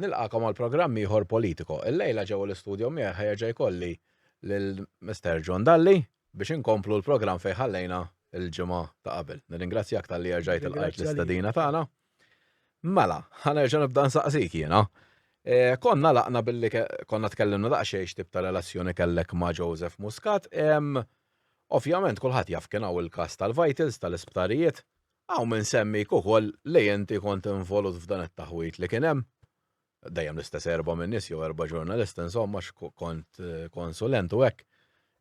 Nilqakom għal programm ieħor Politico. Illejla ġewwa l-istudio miegħi ħa jerġa' jkolli lil Mister John Dalli biex inkomplu l-programm fejn ħallejna l-ġimgħa ta' qabel. Nirringrazzjak talli erġajt il-qajt l-istadina tagħna. Mela, ħanerġa' nibda nsaqsik jiena. E, konna laqna billi konna tkellimna daqsxejn x'tip ta' relazzjoni kellek ma' Joseph Muscat. Ovvjament kulħadd jaf kien hawn il-każ tal-vitals tal-isptarijiet. Hawn min semmik ukoll li inti kont involut f'dan it-taħwid li kien hemm. Dejjem l-istess erbgħa minn nies jew erbgħa ġurnalisti insomma għax kont konsulent u hekk.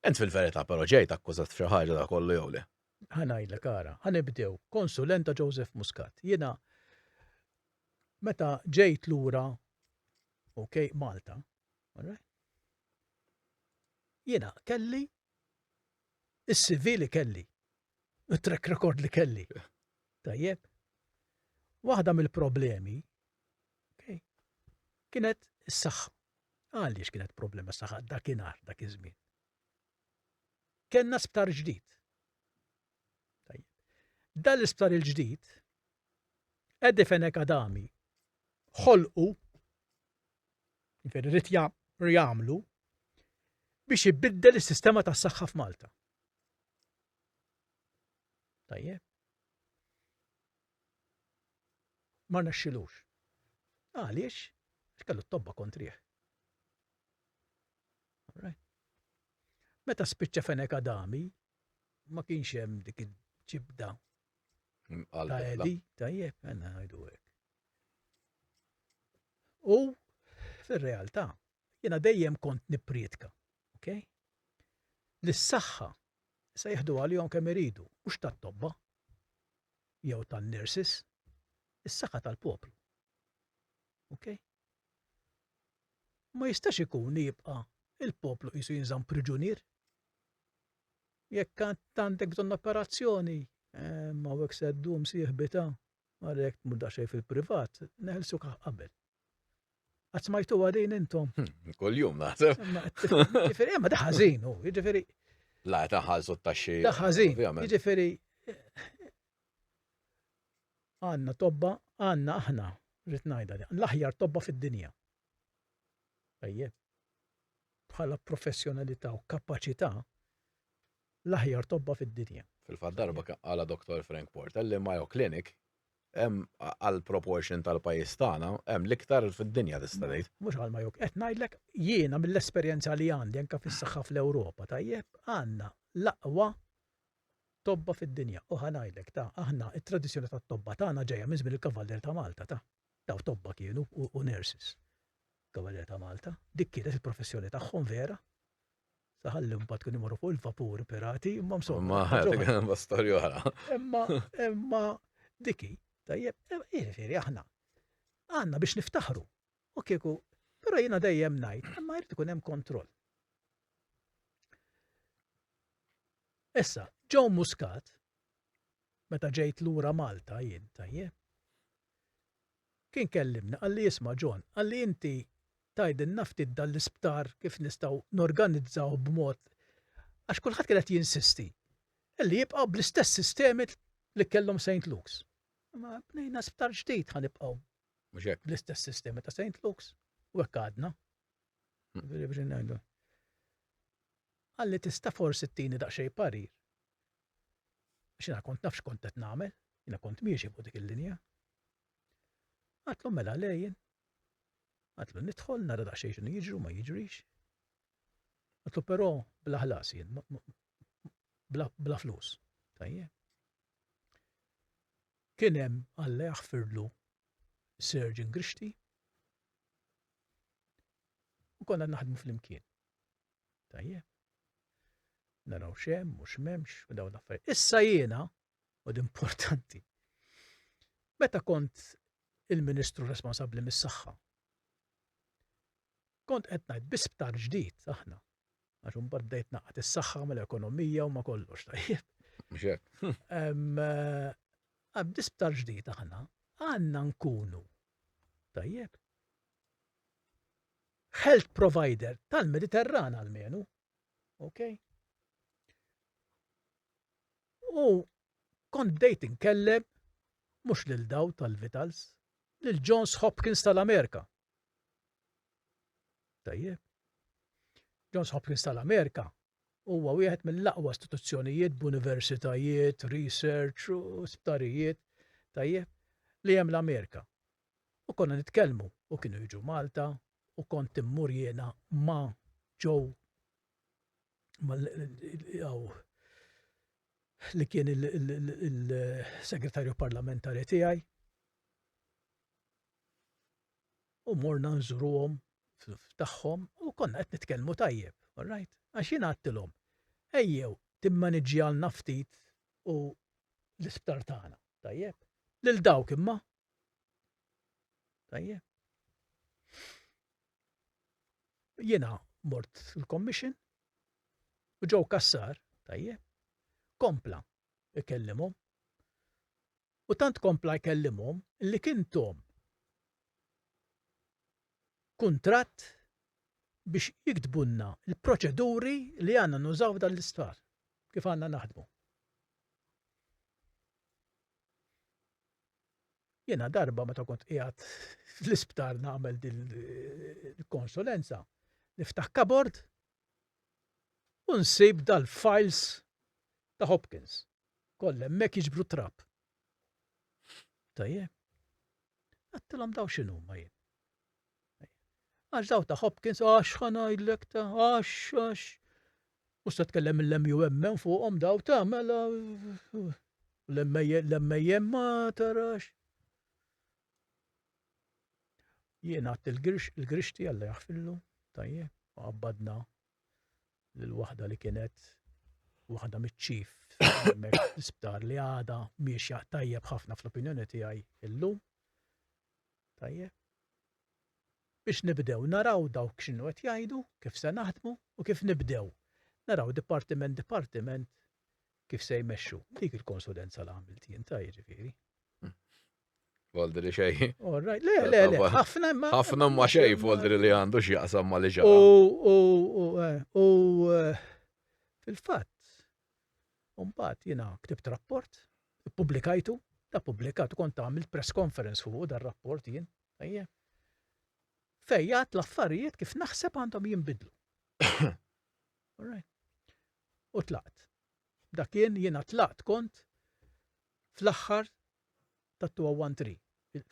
Int fil-verità però ġejt akkużat f'xi ħaġa da kollu jew le? Ħa ngħidlek ara, ħa nibdew. Konsulent ta' Joseph Muscat. Jiena meta ġejt lura ok Malta, jiena kelli is-CV li kelli. u track record li kelli. Tajjeb. Waħda mill-problemi kienet is-saħħa. Għaliex kienet problema saħħa dakinhar dak iż-żmien. Kenna sptar ġdid. Dan l-isptar il-ġdid, Edi Fenek Adami, ħolqu, rrit jagħmlu, biex ibiddel is-sistema tas-saħħa f'Malta. Tajjeb. Ma rnexxilux. Għaliex? Kellu t-tobba kontrih. Meta spiċċa fenek Adami, ma kienx hemm dik il-ġibda. Ta' Edi, tajjeb, għanna għajdu U fil-realtà, Jiena dejjem kont nipprietka, ok? Li s-saħħa se jieħdu għalihom kemm iridu, mhux tat-tobba jew tan-nurses, is-saħħa tal-poplu. Ok? Ma jistax ikun li jibqa' il-poplu qisu jinżamm priġunier. Jekk għandek bżonn operazzjoni, eh, ma hawnhekk se ddum sieħbita Ara jekk tmur daqsxejn fil-privat, neħlsu kah qabel. Għad smajtu għadin intom. Hmm, Kol-jum naħseb. Ġifiri, ma daħazin, u, ġifiri. La, taħħalsu t-taxxi. Daħazin, ġifiri. Għanna tobba, għanna aħna, rritnajda, l-aħjar tobba fid-dinja. Ejjeb. Bħala professjonalità u kapacità, L-aħjar tobba fid-dinja. Fil-fatt darba qalha Dottor Frank Portell li Mayo Clinic hemm għall-proportion tal-pajjiż tagħna hemm l-iktar fid-dinja tista' tgħid. Mhux għal Mayo, qed ngħidlek jiena mill-esperjenza li għandi anke fis-saħħa fl-Ewropa tajjeb, għandna l-aqwa tobba fid-dinja u ħa ngħidlek ta' aħna t-tradizzjoni tat-tobba tagħna ġejja minn żmien il-Kavallier ta' Malta ta'. Dawn tobba kienu u nurses. Kavalieri ta' Malta. Dik kienet il-professjoni tagħhom vera. Saħalli mbagħad kienu jmorru fuq il-vapuri pirati, imma msomma. Ma ħadd għandha storja oħra. Imma imma diki, tajjeb, jiġifieri aħna għandna biex niftaħru. U kieku, però jiena dejjem ngħid, imma jrid ikun hemm kontroll. Issa, Joe Muscat meta ġejt lura Malta jien, tajjeb. Kien kellimni qalli isma' John, qalli inti tgħidilna ftit dan l-isptar kif nistgħu norganizzawh b'mod għax kulħadd kien qed jinsisti li jibqa' bl-istess sistemi li kellhom Saint Luke's. Ma bnejna sptar ġdid ħa nibqgħu. Mhux hekk. Bl-istess sistemi ta' Saint Luke's u hekk għadna. Qalli tista' forsi tini daqsxejn parir Għax jiena kont naf x'kont qed nagħmel, jiena kont miexi fuq dik il-linja. Għatlu mela lejn, għatlu nidħol, nara daqsxejn x'inhu jiġru ma jiġrix. Għatlu però bla ħlas jien, bla flus. Tajjeb. Kien hemm Alla jaħfirlu Surgeon Grixti u konna naħdmu fl-imkien. Tajjeb. Naraw x'hemm u x'memx u dawn l-affarijiet. Issa jiena, u importanti, meta kont il-Ministru responsabbli mis-saħħa, kont qed ngħid bi sptar ġdid aħna. Għax imbagħad bdejt naqgħad is-saħħa mal-ekonomija u ma kollox tajjeb. Għabdi eh, sptar ġdid aħna għandna nkunu tajjeb health provider tal-Mediterran għalmenu. Ok? U kont dejt inkellem mhux lil daw tal-Vitals, lil Johns Hopkins tal-Amerika. Tajjeb. Johns Hopkins tal-Amerika huwa wieħed mill-aqwa istituzzjonijiet b'universitajiet, research, sptarijiet, tajjeb, li hemm l-Amerika. u konna nitkellmu u kienu jiġu Malta u kont immur jiena ma' Joe li kien il-segretarju parlamentari tiegħi u morna nżuruhom tagħhom u konna qed nitkellmu tajjeb, all right? Għax jien għattilhom, ejjew timmaniġġjalna ftit u l-isptar tagħna, tajjeb? Lil dawk imma Tajje. Jiena mort il-commission u ġew kassar, tajje, kompla ikellimhom. U tant kompla jkellimhom li kien tom kuntratt biex jiktbunna l-proċeduri li għanna nużaw dan l-isptar, kif għanna naħdmu. Jiena darba meta kont qiegħed fl-isptar nagħmel din il-konsulenza, niftaħ kabord u nsib dal-files ta' Hopkins. Koll hemmhekk jiġbru trab. Tajjeb. Għattilhom daw x'inhuma jien. Għax daw ta' Hopkins, għax ħanajdlek ta' għax, għax. U se tkellem l-MUMM fuqhom daw ta' mela l-MAM ma tarax. Jien għat il-grixti għalla jaħfillu, tajje, għabbadna l-wahda li kienet wahda mitċif l-isptar li għada miex tajjeb ħafna fl-opinjoni tiegħi illum Tajjeb. Biex nibdew naraw dawk x'inhu qed jgħidu, kif se naħdmu u kif nibdew naraw dipartiment dipartiment kif se jmexxu. Dik il-konsulenza li għamilt jien ta' jiġifieri. Voldi li xej. Alright, le, le, le, ħafna ma. ħafna ma xej voldi li għandu x'jaqsam ma li ġara. U, u, u, eh, eh, fil-fatt, U mbagħad jiena ktibt rapport, ippubblikajtu, da ppubblikat u kont għamilt press conference fuq dar rapport jien, ejja. Fejjat l-affarijiet kif naħseb għandhom jinbidlu. U tlaqt. Dakien jiena tlaqt kont fl-aħħar ta' 213.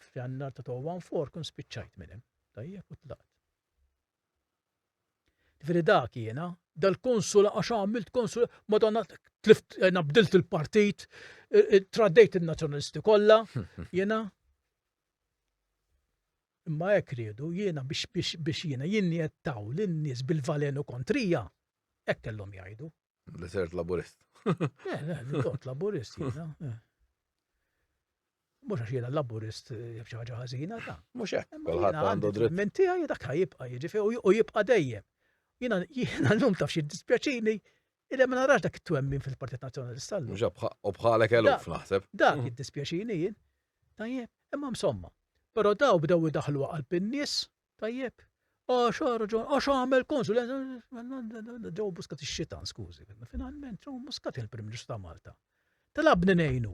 F'jannar ta' 214 kun spiċċajt minn hemm. Tajjeb u tlaqt. Ġifieri dak jiena, dal-konsula għax għamilt konsula, madonna tlift jiena bdilt il-partit, traddejt in-nazzjonalisti kollha, jiena. Imma hekk riedu jiena biex jiena jinjettaw lin-nies bil-valenu kontrija, hekk kellhom jgħidu. Li sert laburist. Eh, le, li kont laburist jiena. eh. Mhux għax jiena laburist eh, jaf xi ħaġa ħażina ta. Mhux hekk, Imma kulħadd jiena għandu għandi dritt. Minn tiegħi dak ħajibqa' jiġifieri u- u jibqa' dejjem. Jiena jiena llum taf xi dispjaċini illi ma narax dak it-twemmin fil-Partit Nazzjonalista llum. Mhux hekk bħa- u bħalek eluf Da. naħseb. Dak Mhm. jiddispjaċini jien. Tajjeb, imma msomma. Però daw bdew idaħlu għal bin-nies Tajjeb, għax raġun, għax għamel konsulenza. Ġo muskat ix-xitan, skużi, finalment ġo muskat il-Prim Ministru ta' Malta. Talabni nejnu,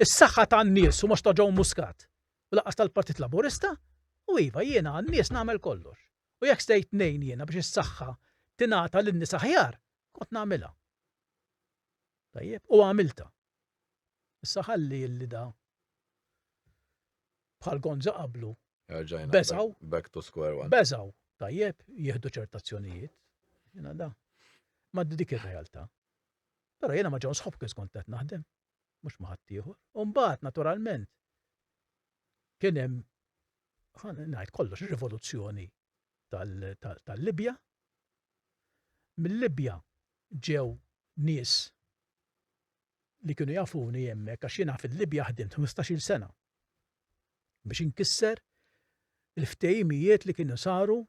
is-saħħa tan-nies u mhux ta' ġo muskat. U laqas tal-Partit Laburista, u iva jiena għan-nies nagħmel kollox. U jekk stejt nejn jiena biex is-saħħa tingħata lin-nies aħjar, kont nagħmilha. Tajjeb, u għamilta. Issa ħalli il-lida bħal gonza qablu. Erġajna. Beżaw. Back to square one. Beżaw. Tajjeb, jieħdu ċertazzjonijiet. Jena da. Ma dik ir-realtà. Però jena ma ġon sħob kif kont qed naħdem. Mhux ma ħadd ieħor. U mbagħad naturalment kien hemm ngħid kollox rivoluzzjoni tal-Libja. Mil-Libja ġew nies li kienu jafuni hemmhekk għax jiena fil-Libja ħdimt 15-il sena biex inkisser il-ftehimijiet li kienu saru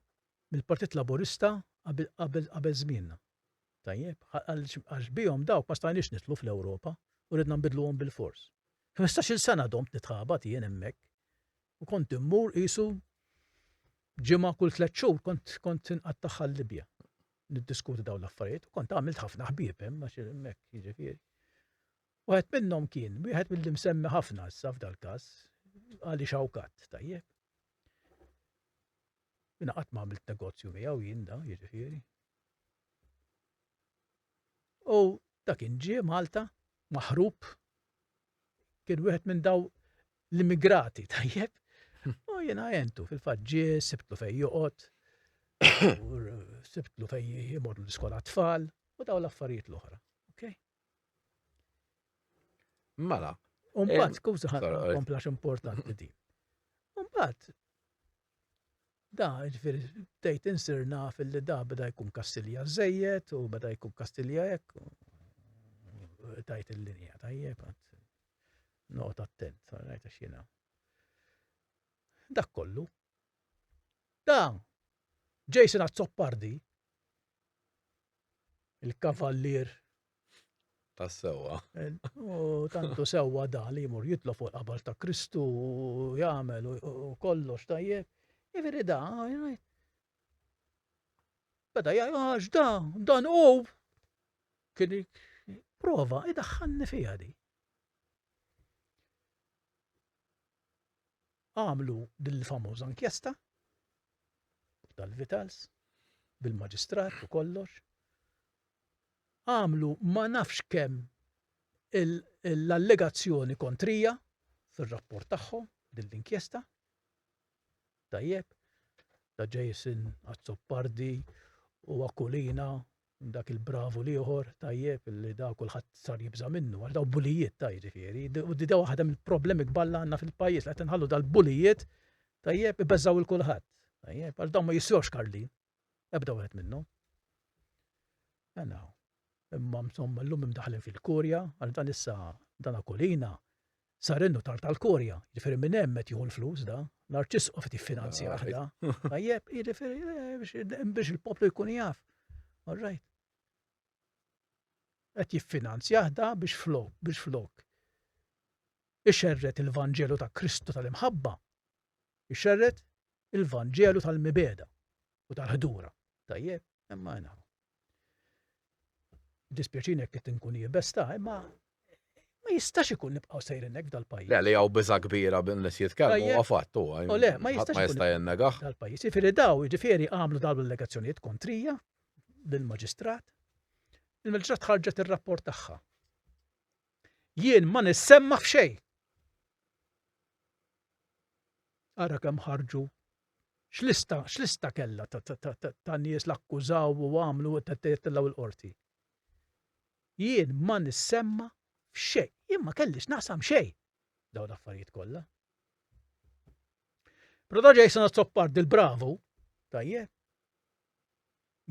mill-Partit Laburista qabel żmienna. Tajjeb, għax bihom dawk ma stajniex nitlu fl-Ewropa u ridna nbidluhom bil-fors. 15-il sena domt nitħabat jien hemmhekk u kont immur qisu ġimgħa kull tliet xhur kont kont inqattaħħa l-Libja. Niddiskuti dawn l-affarijiet u kont għamilt ħafna ħbieb hemm għax hemmhekk jiġifieri. Wieħed minnhom kien wieħed mill msemmi ħafna issa f'dal-każ għali xawkat tajjeb. Jina qatt ma għamilt negozju miegħu jien da, jiġifieri. U dak inġie Malta maħrub kien wieħed minn daw l-immigrati tajjeb. Hmm. U jiena jentu fil-fatt ġie sibtlu fejn joqgħod, sibtlu fejn jimorru l-iskola tfal u daw l-affarijiet l-oħra. Okay? Mela. Umbat, eh, skuża ħadd komplax importanti din. Umbat, Da, ġifieri bdejt insir naf li da beda jkun Kastilja żejjed u beda jkun Kastilja hekk. Tajt il-linja tajjeb noqgħod attent, rajt għax jiena. Dak kollu. Da, Jason Azzopardi, il-kavallier. Ta' sewwa. U tantu sewwa da li jmur jitlob fuq il-qabal ta' Kristu u jagħmel u kollox tajjeb. Iveri da, beda jgħax da, dan u kien prova idaħħanni fija di. Għamlu din il-famoża inkjesta tal-Vitals bil-maġistrat u kollox. Għamlu ma nafx kemm l-allegazzjoni kontrija fir-rapport tagħhom din l-inkjesta. Tajjeb, ta' Jason Azzopardi u Akulina dak il-bravu l-ieħor, tajjeb, li da kulħadd sar jibża' minnu, għax daw bulijiet ta' jiġifieri, u di daw waħda mill-problemi kbar li għandna fil-pajjiż li qed inħallu dal-bulijiet, tajjeb, ibeżżgħu il kulħadd, tajjeb, għax dawn ma jiswewx karlin, ebda wieħed minnhom. Mela, imma msomma llum imdaħlin fil-kurja, għax dan issa dan akolina, sar in-nutar tal-Korja, jiġifieri minn hemm qed jieħu l-flus da, l-Arċisqof qed jiffinanzja aħda. Tajjeb, jiġifieri eh, biex il-poplu jkun jaf. All right. Qed jiffinanzja aħda biex flok, biex flok ixerret il-Vanġelu ta' Kristu tal-imħabba, ixerret il-Vanġelu tal-mibeda u tal-ħdura. Tajjeb, imma jnaħu. Dispjaċini jekk qed inkun iebes ta' imma ma jistax ikun nibqgħu sejrin hekk dal-pajjiż. Le li hawn biża' kbira bin nies jitkellmu huwa fatt huwa. U le, ma jistax ikun jinnegah. Dal-pajjiż. Jifieri daw, jiġifieri għamlu dawn l-allegazzjonijiet kontrija lill-Maġistrat. Il-Maġistrat ħarġet ir-rapport tagħha. Jien ma nissemma f'xejn. Ara kemm ħarġu X'lista, x'lista kellha ta' nies l-akkużaw u għamlu tettellgħu l-qorti. Jien ma nissemma f'xejn, jien ma kellix naqsam xejn daw l-affarijiet kollha. Proto Jason għazzoppar dil-bravu, tajjeb,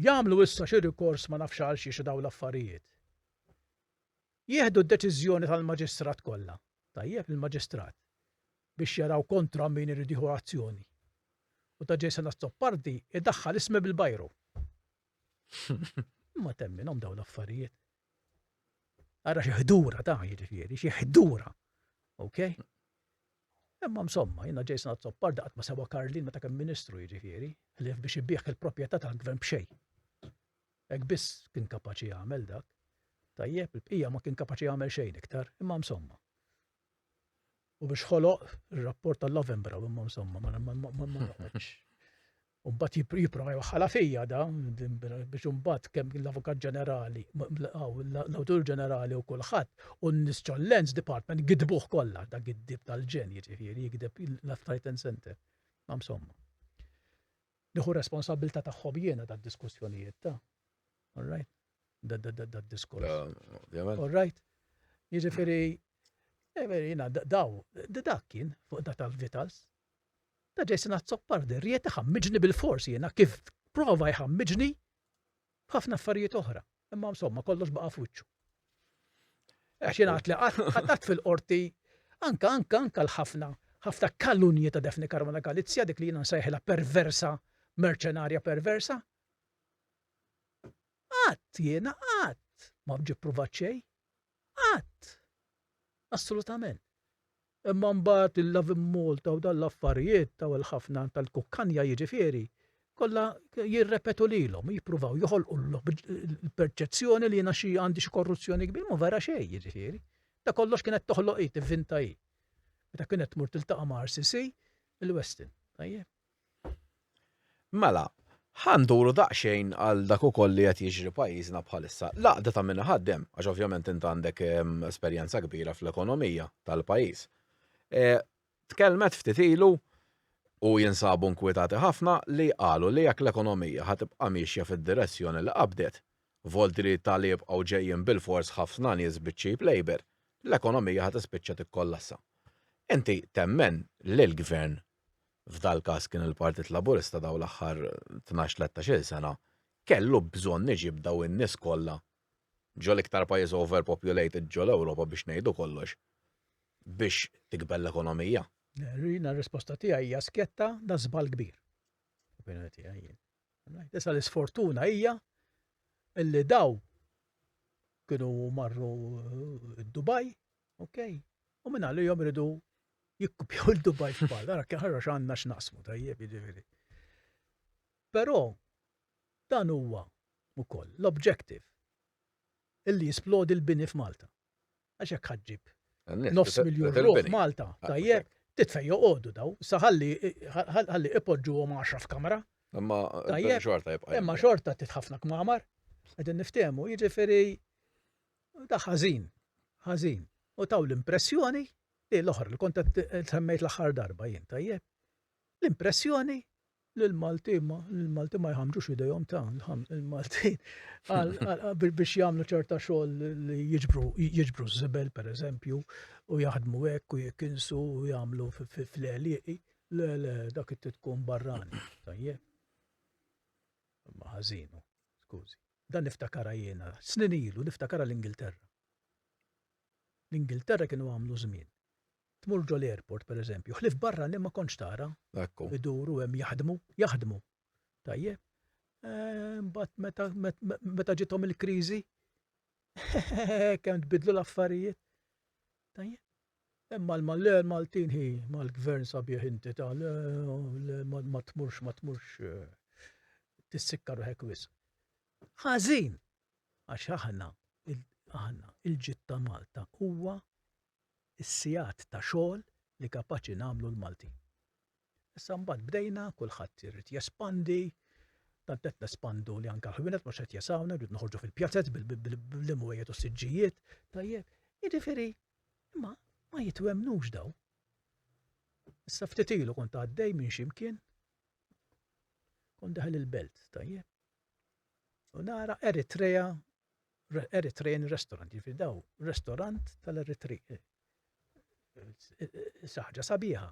jamlu issa xi rikors ma nafx għal xi daw l-affarijiet. Jieħdu d-deċiżjoni tal-maġistrat kollha, tajjeb il-maġistrat. biex jaraw kontra min irid jieħu azzjoni u ta' Jason Azzopardi idaħħal ismi bil-bajru. Ma temminhom dawn l-affarijiet. Ara xi ħdura ta' jiġifieri, xi ħdura. Ok? Imma msomma, jina Jason Azzoppar daqat ma sewa Karlin meta kemm ministru jiġifieri, li biex ibieħ il-proprjetà tal-gvern b'xej. Ek biss kien kapaċi jagħmel dak. Tajjeb, il-bqija ma kien kapaċi jagħmel xejn iktar, imma msomma. U biex ħoloq ir-rapport tal-Lavembra u imma insomma ma noqgħodx. U mbagħad jipprova jwaħħala fija da biex imbagħad kemm l-Avukat Ġenerali, l-Awtur Ġenerali u kulħadd u n-nies ċollens Department gidbuh kollha da giddib tal-ġen jiġifieri jigdeb l-Affarijiet Center. Ma insomma. Nieħu r-responsabbiltà tagħhom jiena tad-diskussjonijiet ta'. All right? Dad-diskors. Ovvjament. All right? Jiġifieri, jiena daw, dak kien fuq da tal-Vitals. Da Jason Azzopardi, riet iħammiġni bil-fors jiena kif prova jħammiġni B'ħafna affarijiet oħra, imma insomma kollox baqa' f'wiċċu. Għax jien għad li qatt fil-qorti anka anka anka l-ħafna ħafna kalunji ta' Defni Karmela Galizja dik li jiena nsejħilha perversa, merċenarja perversa. Qatt jiena qatt ma ġi pruvat xejn. Qatt! Assolutament. Imma mbagħad il-Lovin Malta u dan l-affarijiet taw il-ħafna tal-kukkanja jiġifieri kollha jirrepetu lilhom, jippruvaw joħolqu l-perċezzjoni li jiena xi għandi xi korruzzjoni kbir, ma vera xejn jiġifieri. Ta' kollox kienet toħloq hi, tivvinta hi. Meta kienet tmur tiltaqa' ma' RCC, il-Westin. Tajjeb. Mela, ħa nduru daqsxejn għal dak ukoll li qed jiġri pajjiżna bħalissa. L-għaqda ta' min iħaddem, għax ovvjament int għandek esperjenza kbira fl-ekonomija tal-pajjiż, tkellmet ftit ilu u jinsabu nkwitati ħafna li qalu li jekk l-ekonomija ħa tibqa' miexja fid-direzzjoni li qabdet, volti li ta' li jibqgħu ġejjin bilfors ħafna nies biċ-cheap labour, l-ekonomija ħa tispiċċa tikkollassa. Inti temmen li l-Gvern f'dal-każ kien il-Partit Laburista dawn l-aħħar tnax, tlettax-il sena, kellu bżonn iġib dawn in-nies kollha ġol-iktar pajjiż overpopulated ġol-Ewropa biex ngħidu kollox biex tikber l-ekonomija. Jiena r-risposta tiegħi hija skjetta da żball kbir. Opinjoni tiegħi jien. Issa l-isfortuna hija illi daw kienu marru eh, Dubai Ok? U minna li jom ridu jikkupjaw il-Dubai f'pal, għara kħarra xanna x'naqsmu tajjeb jiġifieri. Però dan huwa ukoll l-objective illi jisplodi l-bini f'Malta. Għax hekk ħaġġib nofs miljun ruħ Malta, ah, tajjeb, titfej joqogħdu daw, saħalli ħalli ipoġġuhom għaxra f'kamra. Imma xorta jibqa'. Imma xorta titħafna kmamar, qegħdin niftehmu, jiġifieri Daħ ħażin, ħażin. U taw l-impressjoni li l-oħra li kont qed semmejt l-aħħar darba jien, tajjeb? L-impressjoni li l-Malti ma l-Malti ma jħamġux idejhom ta' il-Malti biex jagħmlu ċerta xogħol li jiġbru jiġbru żibel pereżempju u jaħdmu hekk u jikinsu u jagħmlu fl-għelieqi le le dak it tkun barrani tajjeb. Ma ħażinu, skużi. Dan niftakarha jiena, snin ilu, niftakarha l-Ingilterra. L-Ingilterra kienu għamlu żmien. Tmur ġol-airport, per eżempju, ħlief barranin ma kontx tara. Ekku. Iduru hemm jaħdmu, jaħdmu. Tajjeb. Imbagħad meta, meta ġithom il-kriżi, kemm tbiddlu l-affarijiet. Tajjeb. Imma l-Malle l-Maltin hi mal-Gvern sabiħ inti ta' le le ma tmurx ma tmurx tissikka ruħek wisq. Ħażin! Għax aħna aħna il-ġid ta' Malta huwa s-sigħat ta' xogħol li kapaċi nagħmlu l-Maltin. Issa mbagħad bdejna, kulħadd irid jespandi, tant qed nespandu li anke l-ħwienet mhux qed jesawna, rrid noħorġu fil-pjazez bil-imwejjed u s-siġġijiet. Tajjeb, jiġifieri, imma ma jitwemnux daw. Issa ftit ilu kont għaddej minn ximkien, kont daħal il-belt, tajjeb. U nara Eritrea, Eritrean restaurant, jiġifieri daw, restaurant tal-Eritrea, Saħġa sabiħa.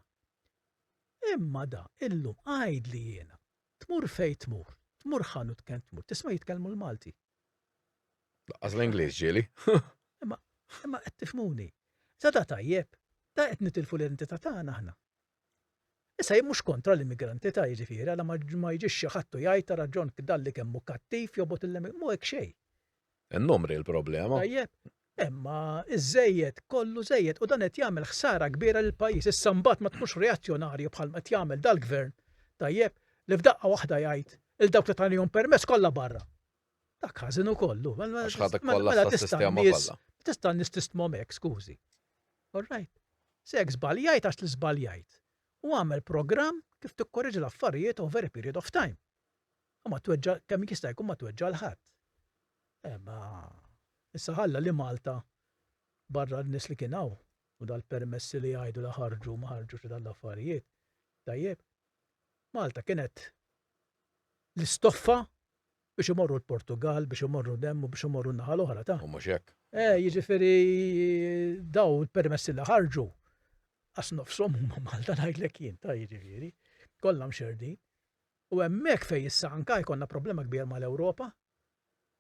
Imma da, illum għajd li jiena. Tmur fej tmur, tmur ħanu tkent tmur, tisma' jitkellmu l-Malti. Laqqas l-Ingliż ġieli. Imma qed tifmuni. Sada tajjeb, da qed nitilfu l-identità tagħna aħna. Issa jien mhux kontra l-immigrantita jiġifieri għala ma ma jiġix xi ħadd u jgħid ara John Kdalli kemm hu kattiv jobgħod il mhu hekk xejn. In-numri l-problema. Tajjeb, imma iż-żejjed kollu żejjed u dan qed jagħmel ħsara kbira lill-pajjiż issa mbagħad ma tkunx reazzjonarju bħal ma qed jagħmel dal-gvern, tajjeb, li f'daqqa waħda jgħid 'il dawk li tanihom permess kollha barra. Dak ħażin ukoll hu. Għax ħadek kollha Mela tista' s-sistema n-nies kollha. tista' n-nies tistmhom hekk, skużi. All right. Se jekk żbaljajt għax li żbaljajt. U agħmel programm kif tikkoreġi l-affarijiet over a period of time. U ma tweġġa' kemm jista' jkun ma tweġġa' l ħadd. Eh, ma issa ħalla li Malta barra n-nies li kien hawn u dal-permessi li jgħidu li ħarġu ma ħarġux dal-affarijiet. Tajjeb. Malta kienet l-istoffa Biex imorru l-Portugall, biex imorru l-hemm u biex imorru n-naħa l-oħra ta'. U mhux hekk. Eh, jiġifieri dawn il-permessi li ħarġu qas nofshom huma Malta ngħidlek jien ta' jiġifieri. Kollha mxerdin. U hemmhekk fejn issa anka jkollna problema kbir mal-Ewropa.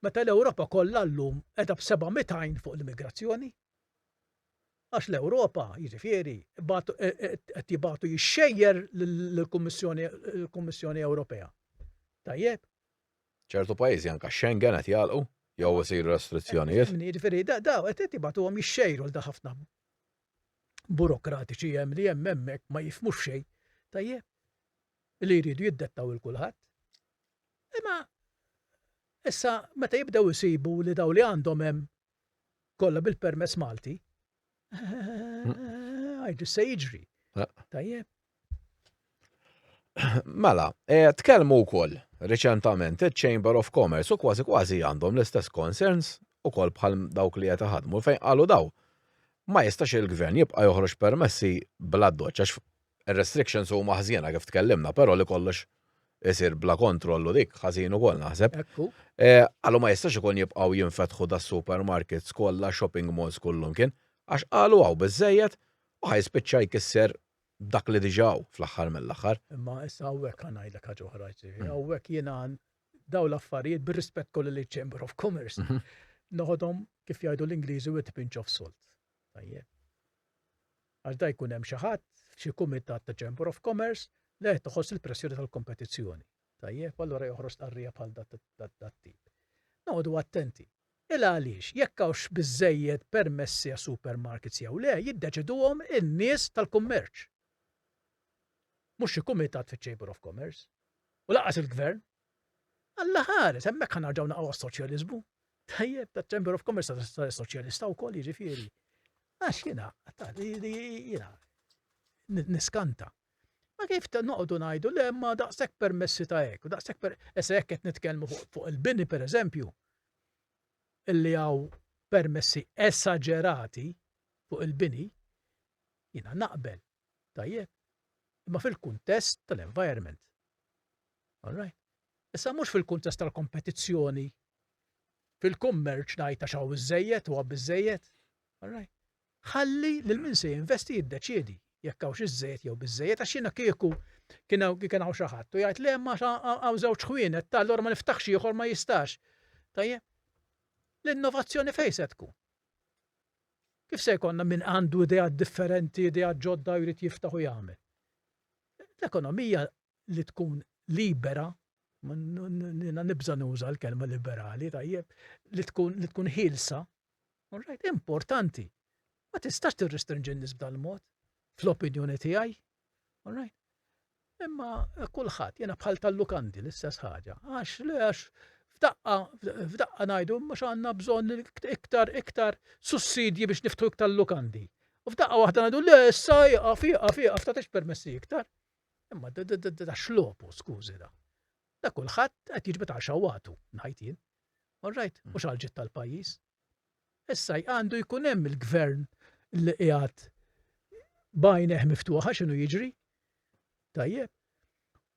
Meta l-Ewropa kollha llum qiegħda b'700 għajn fuq l-immigrazzjoni. Għax l-Ewropa, jiġifieri, qed jibagħtu jixxejjer lill-Kummissjoni Ewropea. Tajjeb? Ċertu pajjiżi anke x-Schengen qed jagħlqu jew isiru restrizzjonijiet. Jiġifieri, daw qed jibagħtuhom jixxejru lil ħafna burokratiċi hemm li hemm hemmhekk ma jifhmux xejn. Tajjeb? Li jridu jiddettaw il kulħadd. Imma issa meta jibdew isibu li daw li għandhom hemm kollha bil-permess Malti. Għajdu se jiġri. Tajjeb. Mela, e, tkellmu wkoll reċentament il-Chamber of Commerce u kważi kważi għandhom l-istess concerns u kol bħal dawk li qed ħadmu fejn qalu daw. Ma jistax il-gvern jibqa' joħroġ permessi bla doċċax Ir-restrictions huma ħżiena kif tkellimna, però li kollox isir bla kontroll u dik ħażin ukoll naħseb. Ekku. Qalu ma jistax ikun jibqgħu jinfetħu das-supermarkets kollha, shopping malls kullumkien, għax qalu hawn biżżejjed u ħa jispiċċa jkisser dak li diġà hawn fl-aħħar mill-aħħar. Imma issa hawnhekk ħa ngħidlek ħaġa oħra, ġifieri hawnhekk jiena dawn l-affarijiet bir-rispett kollu liċ-Chamber of Commerce noħodhom kif jgħidu l-Ingliżi with a pinch of salt. Tajjeb. għax da jkun hemm xi ħadd f'xi kumitat ta' Chamber of Commerce li qed iħoss il-pressjoni tal-kompetizzjoni. Tajjeb, allura joħroġ stqarrija bħal dat-tip. Noqogħdu attenti. Il għaliex, jekk hawnx biżżejjed permessi għas-supermarkets jew le, jiddeċiduhom in-nies tal-kummerċ. Mhux xi kumitat fiċ-Chamber of Commerce. U lanqas il-Gvern, Alla ħares, hemmhekk ħa narġgħu naqgħu għas-soċjaliżmu. Tajjeb, ta' Chamber of Commerce ta' soċjalista wkoll jiġifieri. Għax jiena, jiena, niskanta. Ma kif ta' noqdu ngħidu le ma daqshekk permessi ta' hekk, daqshekk per essa hekk qed nitkellmu fuq il-bini pereżempju, illi hawn permessi esagerati fuq il-bini, jiena naqbel Tajjeb? Imma fil-kuntest tal-environment. All right? Issa mhux fil-kuntest tal-kompetizzjoni fil-kummerċ ngħid għax hawn iżejjed u biżejjed. All right? Ħalli lil min se jinvesti jiddeċiedi jekk hawnx iżejjed jew biżejjed għax jiena kieku kien hawn xi ħadd u jgħid le ma hawn żewġ ħwienet tal ma niftaħx ieħor ma jistax. Tajjeb? L-innovazzjoni fejn se tkun? Kif se jkollna min għandu ideat differenti, ideat ġodda jrid jiftaħ u jagħmel? L-ekonomija li tkun libera, nibża nuża l-kelma liberali, tajjeb, li tkun li tkun ħilsa, importanti. Ma tistax tirrestrinġi n-nies b'dal-mod, fl-opinjoni tiegħi, All right? Imma kulħadd jiena bħal tal-lukandi l-istess ħaġa. Għax le għax f'daqqa f'daqqa ngħidu mhux għandna bżonn iktar iktar sussidji biex niftu iktar lukandi. U f'daqqa waħda ngħidu le issa jaqaf jaqaf jaqaf ta' permessi iktar. Imma da xlopu skużi da. Da kulħadd qed jiġbed għal xawatu ngħid jien. All right, mhux għal ġid tal-pajjiż. Issa għandu jkun hemm il-gvern li qiegħed b'għajnejh miftuħa x'inhu jiġri. Tajjeb.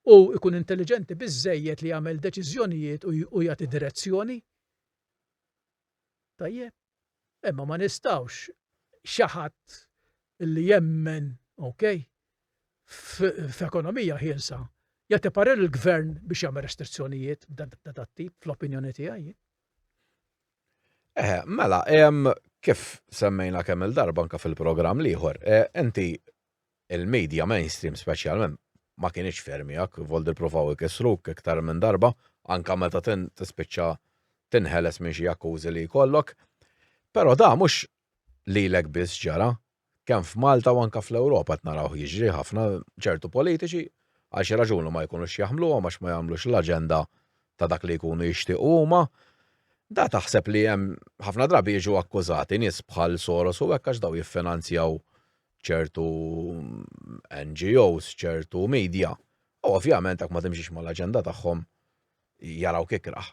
U jkun intelliġenti biżżejjed li jagħmel deċiżjonijiet u jagħti direzzjoni. Tajjeb. Imma ma nistgħux xi ħadd li jemmen, okay, f'ekonomija ħielsa jagħti parir il-gvern biex jagħmel restrizzjonijiet b'dan tip fl-opinjoni tiegħi. Eħe, mela, kif semmejna kemm il-darba anka fil-programm l-ieħor, inti il-media mainstream speċjalment ma kienx fermijak, voldi provaw ikissruk iktar minn darba, anka meta tispiċċa tinħeles minn xi akkużi li jkollok. Però da mhux lilek biss ġara, kemm f'Malta u anke fl-Ewropa qed narawh jiġri ħafna, ċertu politiċi għal xi raġuni ma jkunux jaħmluhom għax ma jagħmlux l-aġenda ta' dak li jkunu jixtiequ huma, da taħseb li hemm ħafna drabi jiġu akkużati nies bħal Soros u hekk għax daw jiffinanzjaw ċertu NGOs, ċertu media. U ovvjament hekk ma timxix mal-aġenda tagħhom jarawk ikrah.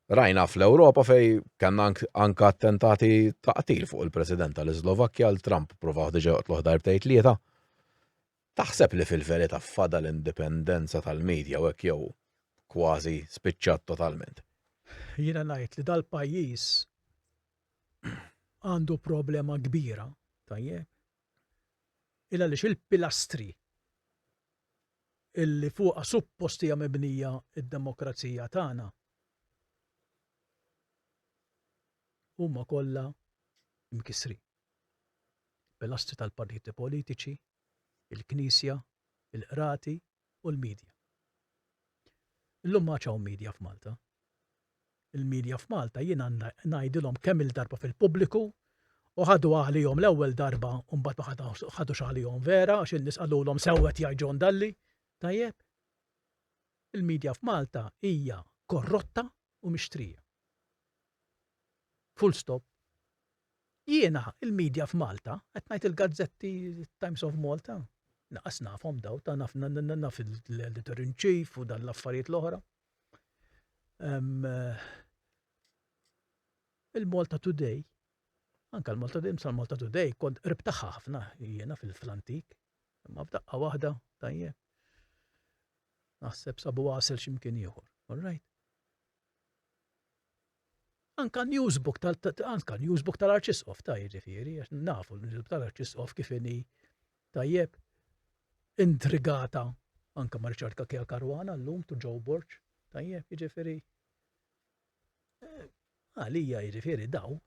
Rajna fl-Ewropa fej kellna anka attentati ta' qtil fuq il-President tal-Islovakkja l Trump provaw diġa joqtluh darbtej tlieta. Taħseb li fil-verità fada l-indipendenza tal-medja u hekk jew kważi spiċċat totalment? Jiena ngħid li dal-pajjiż għandu problema kbira, tajjeb, il għaliex il-pilastri illi fuqha suppost hija mibnija d-demokrazija tagħna, huma kollha mkissrin. Pilastri tal-partiti politiċi, il-Knisja, il-qrati u l-midja. Illum m'għadx hawn midja f'Malta. il-media f'Malta jien għandna ngħidilhom kemm-il darba fil-pubbliku u ħaduha għalihom l-ewwel darba u mbagħad ma ħadux għalihom vera għax in-nies qalulhom sew qed jgħid John Dalli. Tajjeb? Il-media f'Malta hija korrotta u mixtrija. Full stop. Jiena il-media f'Malta, qed ngħid il-gazzetti Times of Malta, naqas nafhom daw ta' naf naf l-editor in chief u dan l-affarijiet l-oħra. Il-Malta Today, anke l-Malta Today, sa l-Malta Today, kont qrib tagħha ħafna jiena fil-antik, imma f'daqqa waħda tajjeb. Naħseb sabu għasel x'imkien ieħor, all right? Anka n-newsbook tal anka newsbook tal-Arċisqof ta' jiġifieri għax nafu l-newsbook tal-Arċisqof kif inhi tajjeb intrigata anka ma' Richard Kakija Karwana llum tu Joe Borg tajjeb jiġifieri eh, għalija jiġifieri daw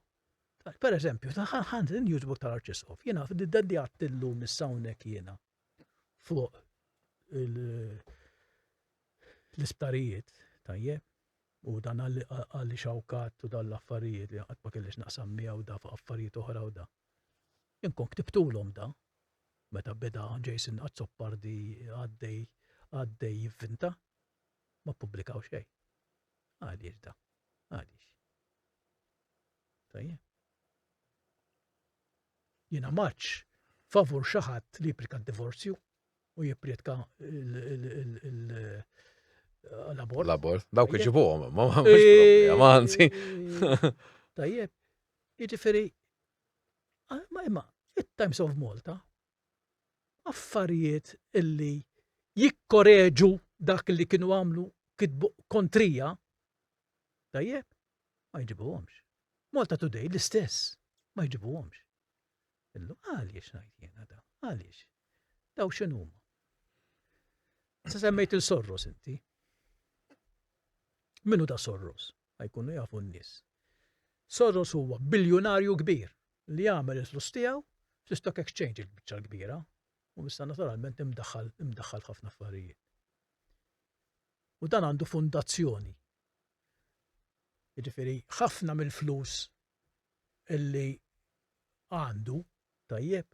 Per eżempju, ħand il-newsbook tal-Arċisqof, jiena d-daddi għattillu mis-sawnek jiena fuq l-isptarijiet tajjeb U dan għaliex hawn qatt u dawn l-affarijiet li qatt ma kelli x'naqsam miegħu da fuq affarijiet oħra u da. Inkun ktibtulhom da. Meta beda Jason Azzopardi għaddej għaddej jivvinta ma ppubblikaw xejn. Għaliex da? Għaliex? Tajjeb. Jiena maċ favur xi ħadd li jipplika d-divorzju u jipprietka l-abort. L-abort, dawk iġibuhom, ma ma anzi. Tajjeb, jiġifieri ah, ma imma it-Times of Malta affarijiet illi jikkoreġu dak li kienu għamlu kitbu kontrija, tajjeb, ma jġibuhomx. Malta Today l-istess, ma jġibuhomx. Illu, għaliex ngħid jiena da? Għaliex? Daw x'inhuma? Sa semmejt il-sorros inti. Minu da sorros? Għajkunu jafu n-nies. Sorros huwa biljunarju kbir li jagħmel il-flus tiegħu fl-stock exchange il-biċċa l-kbira u issa naturalment imdaħħal imdaħħal ħafna affarijiet. U dan għandu fundazzjoni. Jiġifieri ħafna mill-flus li għandu, tajjeb,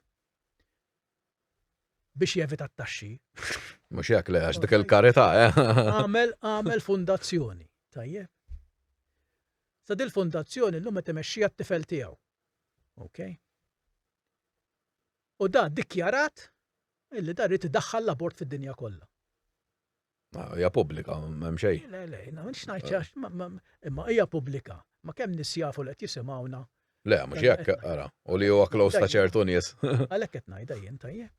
biex jevita t-taxxi. Mhux hekk le għax dik il-karità, eh? Għamel għamel fundazzjoni, tajjeb. Sa dil-fondazzjoni l-lum qed imexxija t-tifel tiegħu. Ok? U da dikjarat illi da rrid idaħħal l-abort fid-dinja kollha. Ah, hija pubblika, m'hemm xejn. Le, le, no, xnajt għax, ma- ma- imma hija pubblika. Ma kemm nis jafu li qed jisimgħuna. Le, mhux jekk, ara. U li huwa close ta' ċertu nies. Għalhekk qed ngħidha jien tajjeb.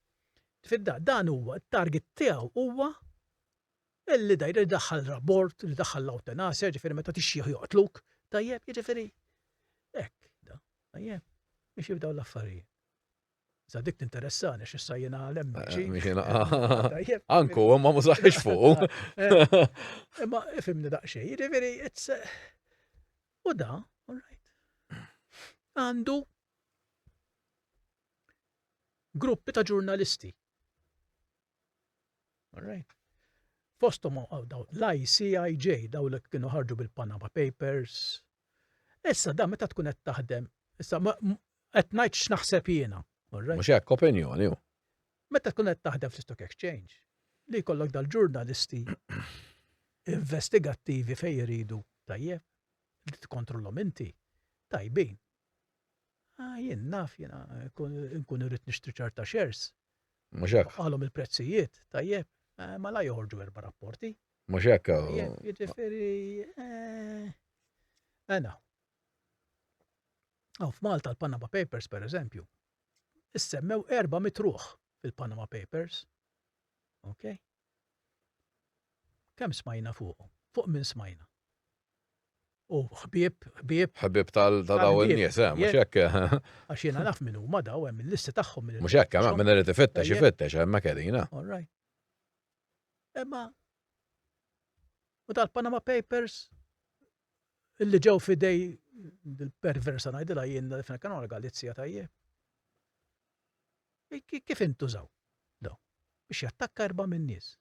Fidda, dan huwa t-target tiegħu huwa illi dajr li daħħal rabort, li daħħal l-eutanasja, ġifieri meta tixjieħ joqtluk, tajjeb, jiġifieri. Hekk, da, tajjeb. Biex jibdew l-affarijiet. Sa dik tinteressani x'issa jiena l-MG. Eh, Anku, ma mużaħx fuq. Imma ifimni daqsxejn, jiġifieri it's eh, u da, all right. Għandu gruppi ta' ġurnalisti. All right. Fostom l-ICIJ daw li kienu ħarġu bil-Panama Papers, Issa dan meta tkun qed taħdem, issa qed ngħid x'naħseb jiena. Mhux hekk, opinjoni hu. Meta tkun qed taħdem fl-Stock Exchange, li jkollok dal-ġurnalisti investigattivi fejn jridu tajjeb, li tkontrollhom inti, tajbin. Ah, jien naf jiena nkun irrid nixtri ċerta shares. Mhux hekk. Qalhom il-prezzijiet, tajjeb, eh, ma la joħorġu erba' rapporti. Mhux hekk. Jiġifieri għana. Aw f'Malta l-Panama Papers pereżempju, issemmew erba' mitruħ fil-Panama Papers. Ok? Kemm smajna fuq? Fuq minn smajna? U ħbieb, ħbieb. ħbieb tal-daw il-nies, eh, mhux hekk. Eh. Għax jiena naf minn huma daw hemm il-listi tagħhom. Mhux hekk, eh, minn irid ifittex, ifittex, hemm kelina. All right. Imma u tal-Panama Papers illi ġew fidej il-perversa ngħidilha jien li fina kienu għal-Galizja tajje. Kif intużaw? Do, biex jattakka erba' minn nies.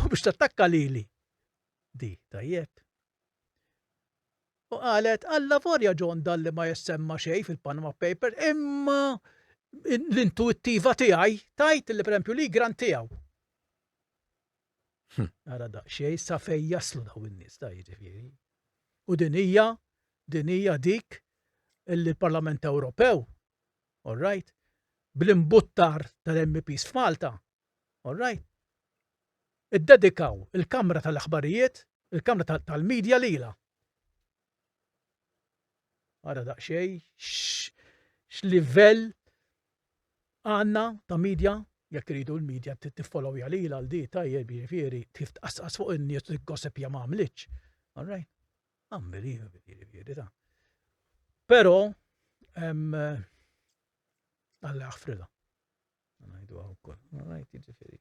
U biex tattakka lili. Di, tajjeb. U qalet, alla vorja John dalli ma jessemma xej fil-Panama Paper, imma l-intuittiva tiegħi tajt li prempju li gran tiegħu. Hm. Ara da, xej sa fej jaslu daw in-nies ta' jiġifieri. U din hija din hija dik li l-Parlament Ewropew, all right, bl-imbuttar tal-MPs f'Malta, All right. Iddedikaw il-kamra tal-aħbarijiet, il-kamra tal-media lilha. Ara daqsxejn x'livell għandna ta' media jekk iridu l-media tiffollowja lilha għal di tajjeb jiġifieri kif tqassqas fuq in-nies li gossipja ma għamlitx. All right. Unbelievable jiġifieri ta'. Però Alla jaħfrilha. Ngħidu hawn ukoll. All right, jiġifieri.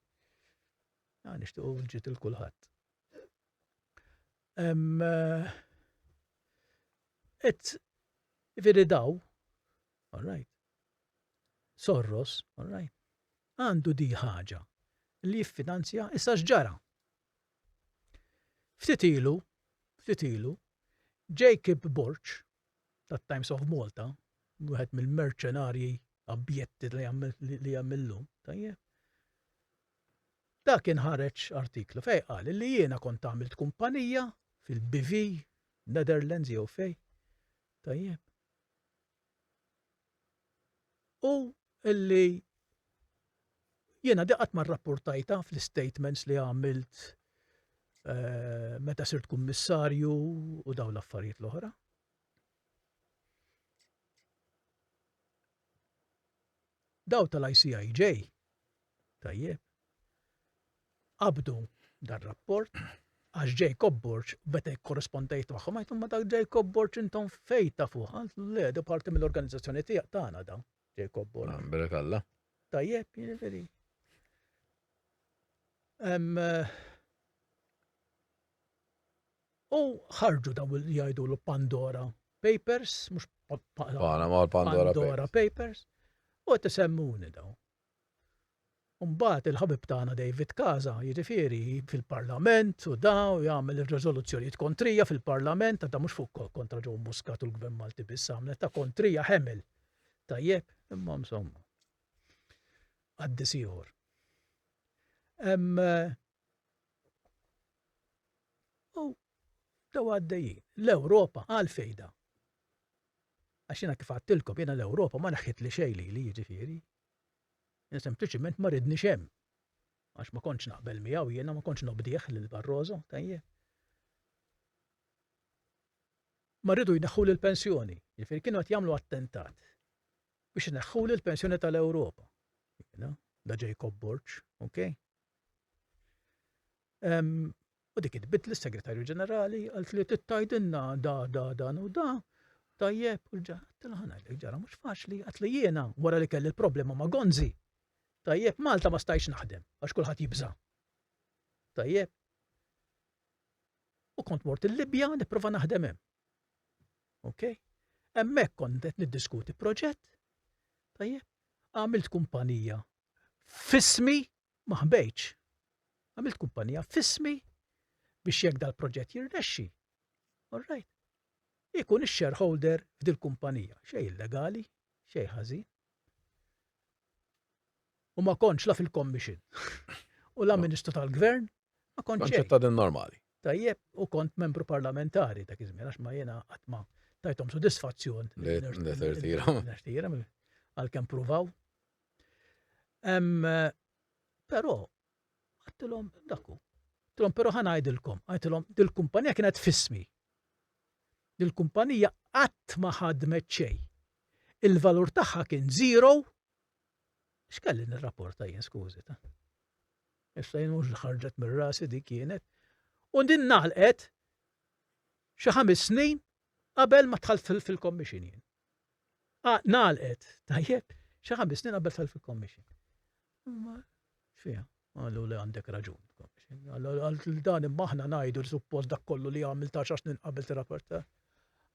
Ja nixtiequ ġiet il kulħadd. Eh, et jiġifieri daw, all right. Sorros, all right. Għandu di ħaġa li jiffinanzja issa x'ġara. Ftit ilu, ftit ilu, Jacob Borch, tat-Times of Malta, wieħed mill-merċenarji abjetti li hemm li hemm illum, tajjeb. Dak inħareġ artiklu fejn qal li jiena kont għamilt kumpanija fil-BV, Netherlands jew fej. Tajjeb. U illi jiena di qatt ma rrappurtajtha fl-istatements li għamilt eh, meta sirt kummissarju u dawn l-affarijiet l-oħra. Daw tal-ICIJ, tajjeb, qabdu dar rapport għax Jacob Borch beta korrespondejt magħhom għajtum ma dak Jacob Borch intom fejta fuq le da parti mill-organizzazzjoni tiegħek tagħna dawn. Jacob Borg. Ah, Berek Alla. Tajjeb, jiġifieri. Eh, u ħarġu daw li jgħidu l Pandora Papers, mhux Panama Pandora, Pandora Papers. U qed isemmuni daw. Mbagħad il-ħabib tagħna David Casa, jiġifieri, fil-Parlament u da u jagħmel ir-riżoluzzjonijiet kontrija fil-Parlament, għadha mhux fuq kontra Joe Muscat u l-Gvern Malti biss għamlet, ta' kontrija ħemel. Tajjeb, imma insomma. Qaddis ieħor. Hemm eh, Dew għaddejjin. L-Ewropa għal fejda. Għax jiena kif għattilkom jiena l-Ewropa ma naħħit li xejn li jiġifieri. Jiena sempliċiment ma ridni xem. Għax ma kontx naqbel miegħu jiena ma kontx nobdih lil Barroso, tajjeb. Ma rridu jneħħu l-pensjoni, jiġifieri kienu qed jagħmlu attentat biex ineħħu l-pensjoni tal-Ewropa. Da Jacob Borċ, ok? U dik tbiddli s-Segretarju Ġenerali għal li tittajdinna da da dan u da. Tajjeb, u l-ġa, tilħana li ġara mhux faċli, għat li jiena wara li kelli l-problema ma' Gonzi. Tajjeb, Malta ma stajx naħdem, għax kulħadd jibża. Tajjeb. U kont mort il-Libja nipprova naħdem hemm. Ok? Hemmhekk kont qed niddiskuti proġett. Tajjeb, għamilt kumpanija fismi ma ħbejtx. Għamilt kumpanija f'ismi biex jekk dal-proġett jirnexxi, all right, ikun ix-shareholder f'dil-kumpanija, xejn illegali, xejn ħażin. U ma kontx la fil-commission. U la ministru tal-gvern, ma kontx. Konċetta din normali. Tajjeb, u kont membru parlamentari ta' kizmi, għax ma jena għatma tajtom sodisfazzjon. Għal-kem provaw, Però, għattilhom dakku. Tilhom però ħa ngħidilkom, għidilhom dil-kumpanija kienet fismi. Dil-kumpanija qatt ma ħadmet xejn. Il-valur tagħha kien zero. X'kelli nirrapporta jien skużi ta' issa jien mhux ħarġet mir-rasi di kienet. U din naħlqet xi ħames snin qabel ma tħalt fil-commission jien. Ah, nalqet, tajjeb, xi ħames snin qabel tal fil-commission. Ma, xfija, għallu li għandek raġun. Għallu dan imma aħna najdu li suppost dak kollu li għamil ta' xax snin qabel t-rapporta.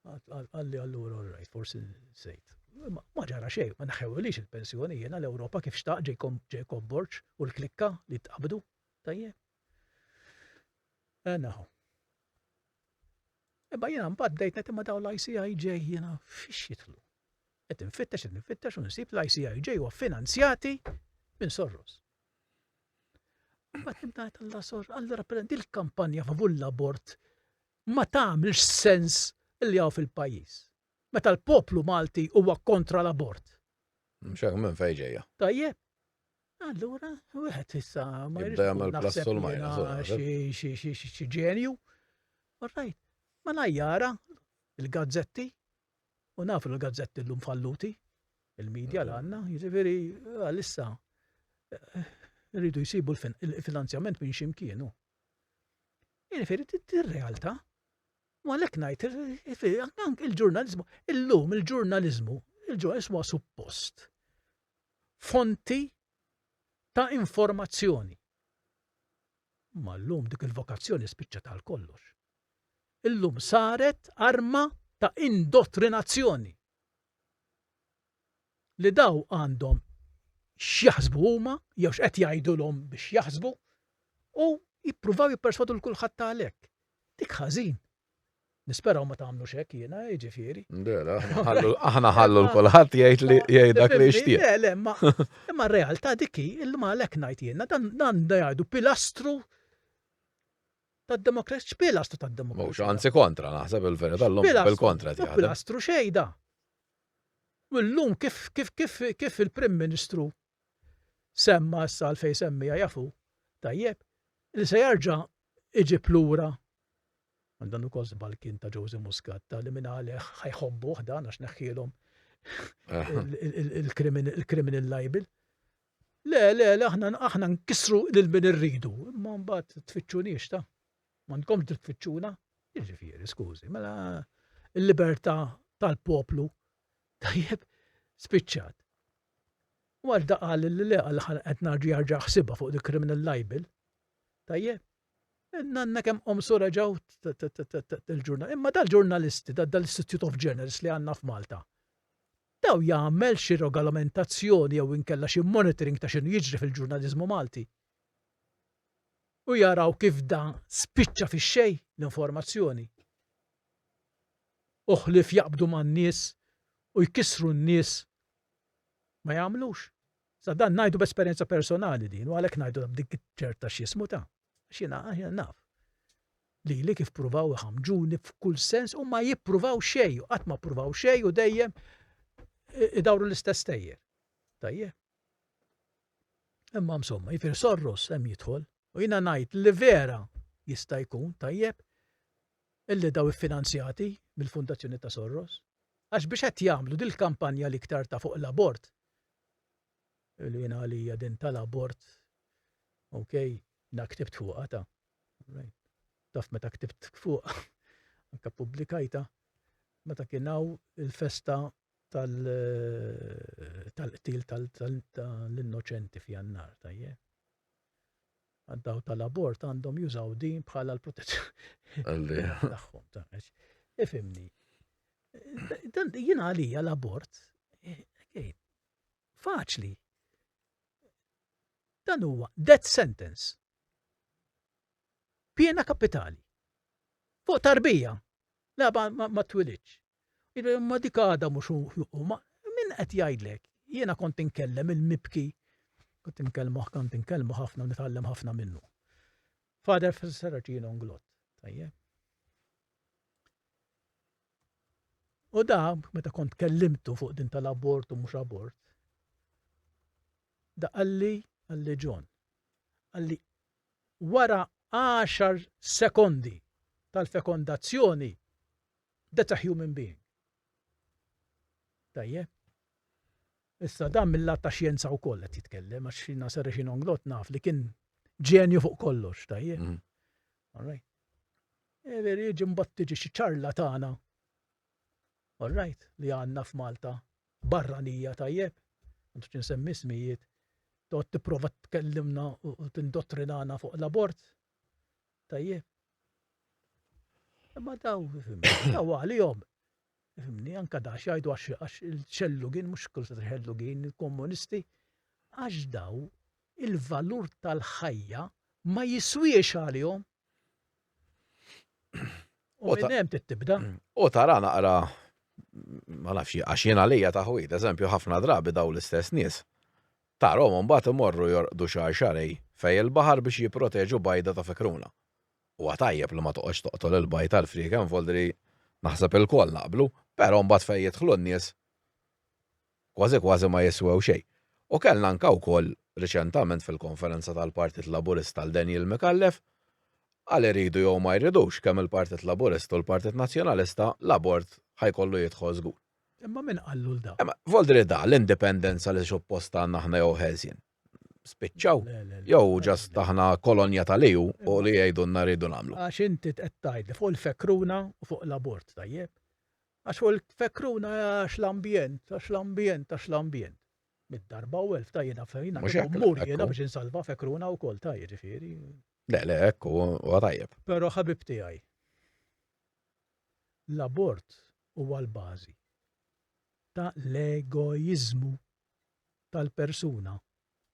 Għalli għallu rajt, forsi sejt. Ma ġara xej, ma naħew li il-pensjoni jena l-Europa kif xtaq Jacob Borċ u l-klikka li t-qabdu. Tajjeb. Enaħu. Eh, Imma jiena mbagħad bdejt ngħid imma dawn l-ICIJ jiena fiex jidħlu. Qed infittex qed infittex u nsib l-ICIJ huwa finanzjati minn Soros. Mbagħad nimtajt għalla sor, għalla rappreżenti l-kampanja favur l-abort ma tagħmilx sens li hawn fil-pajjiż. Meta l-poplu Malti huwa kontra l-abort. Mxek minn fejn ġejja. Tajjeb. Allura, wieħed issa ma jridx jagħmel plassol ma xi ġenju. Orrajt, ma najjara il-gazzetti u nafu l-gazzetti llum falluti, il-medja l għandna, jiġifieri għalissa eh, rridu jsibu l-finanzjament minn ximkienu. Jiġifieri tir-realtà. Ma l ngħid il-ġurnalizmu, illum il-ġurnalizmu, il-ġurnalizmu suppost fonti ta' informazzjoni. Imma llum dik il-vokazzjoni spiċċat għal kollox. Illum saret arma ta' indottrinazzjoni li daw għandhom x'jaħsbu huma jew x'qed jgħidulhom biex jaħsbu u jippruvaw jipperswadu l kulħadd għalhekk. Dik ħażin, Nisperaw ma tagħmlux hekk jiena, jiġifieri. Dera, aħna ħallu l-kulħadd jgħid li jgħid dak li jixtieq. Le, le, imma imma r-realtà dik hi li ma għalhekk ngħid jiena dan dan jgħidu pilastru tad-demokrazija, x'pilastru tad-demokrazija. Mhux anzi kontra naħseb il-verità llum bil-kontra tiegħek. Pilastru xejda. U llum kif kif kif kif il-Prim Ministru semma issa għalfejn semmiha jafu tajjeb li se jarġa' iġib lura għal dan ukoll żball kien ta' Jose Muscat ta' li minn għalih ħajħobbuh dan għax neħħielhom il-criminal libel. Le, le, le, aħna aħna nkissru lil min irridu, imma mbagħad tfittxunix ta' m'għandkom tfittxuna. Jiġifieri, skużi, mela il-libertà tal-poplu tajjeb spiċċat. Malta qal li le għal ħa qed narġa' jarġa' ħsiebha fuq dik criminal libel. Tajjeb. Nanna kemm qomsu reġgħu il-ġurnal. Imma dal-ġurnalisti, dal-Institute of Journalists li għandna f'Malta, daw jagħmel xi regolamentazzjoni jew inkella xi monitoring ta' x'inhu jiġri fil-ġurnaliżmu Malti. U jaraw kif da spiċċa fix-xejn l-informazzjoni. Uħlif jaqbdu man-nies u jkissru n-nies ma jagħmlux. Sa dan ngħidu b'esperjenza personali din u għalhekk ngħidu dik ċerta x'jismu ta' għax jiena naf. Lili kif pruvaw iħamġuni f'kull sens u ma jippruvaw xejn, qatt ma pruvaw xejn u dejjem idawru l-istess tejjer. Tajjeb. Imma msomma, jifir sorros hemm jidħol, U jiena ngħid li vera jista' jkun tajjeb illi dawn iffinanzjati mill-Fundazzjoni ta' Sorros, għax biex qed jagħmlu dil-kampanja l-iktar ta' fuq l-abort, li jiena għalija din tal-abort, ok, jiena ktibt fuqha ta' taf meta ktibt fuqha, anke ppubblikajta, meta kien hawn il-festa tal-qtil tal-innoċenti f'Jannar, tajjeb. għad-dawl tal-abort għandhom jużaw din bħala l-protezzjoni tagħhom. Ifimni. Dan jien għalija l-abort eh, faċli. Dan huwa death sentence. Piena kapitali. Fuq tarbija. Le ma twilidx. Imma dik għadha mhux hu. Ma min qed jgħidlek? Jiena kont inkellem il-mibki. Kont inkellmuh, kont inkellmu ħafna u nitgħallem ħafna minnu. Father Saracino nglott. Tajjeb. U da, meta kont kellimtu fuq din tal-abort u mhux abort, da qalli qalli John, qalli wara għaxar sekondi tal-fekondazzjoni, that's a human being. Tajjeb? Issa dan mill-lat ta' xjenza wkoll qed jitkellem għax xina serri xi nonglot naf li kien ġenju fuq kollox, tajjeb. Mm. All right. E veri jiġi mbagħad tiġi xi ċarlatana. All right, li għandna f'Malta barranija tajjeb, m'għandux insemmi smijiet, toqgħod tipprova tkellimna u tindottrinana fuq l-abort. Tajjeb. Imma daw, daw għalihom. Fimni, anka da xajdu għax il-ċellugin, mux kull sa ċellugin, il-komunisti, għax daw il-valur tal-ħajja ma jiswiex għalihom. U minn hemm tibda. U tara naqra ma nafx għax jien għalija ta' ħwid, eżempju ħafna drabi daw l-istess nies. Tarhom mbagħad imorru jorqdu xahar xarej fej il-baħar biex jipproteġu bajda ta' fikruna. Huwa tajjeb li ma toqgħodx toqtol il-bajd għall-frieken voldri naħseb ilkoll naqblu, però mbagħad fejn jidħlu n-nies kważi kważi ma jiswew xejn. U kellna anke wkoll riċentament fil-Konferenza tal-Partit Laburista 'l Daniel Micallef, għal iridu jew ma jridux kemm il-Partit Laburista u l-Partit Nazzjonalista, l-abort ħa jkollu jidħol żgur. Imma min qallu 'l da? Imma Voldri da, l-indipendenza li suppost għandna aħna jew ħelsien? Spiċċaw? Jew just aħna kolonja tal-EU u li jgħidulna rridu nagħmlu? Għax inti qed tgħidli fuq il-fekruna u fuq l-abort, tajjeb? Għax fuq il-fekruna għax l-ambjent, għax l-ambjent, għax l-ambjent. Mid-darba u elf ta' jena fejna, mux mur jena biex insalva fekruna u kol ta' ġifiri. Le, le, ekku, u għatajab. Pero ħabib tijaj, l-abort u għal-bazi ta' l-egoizmu tal-persuna.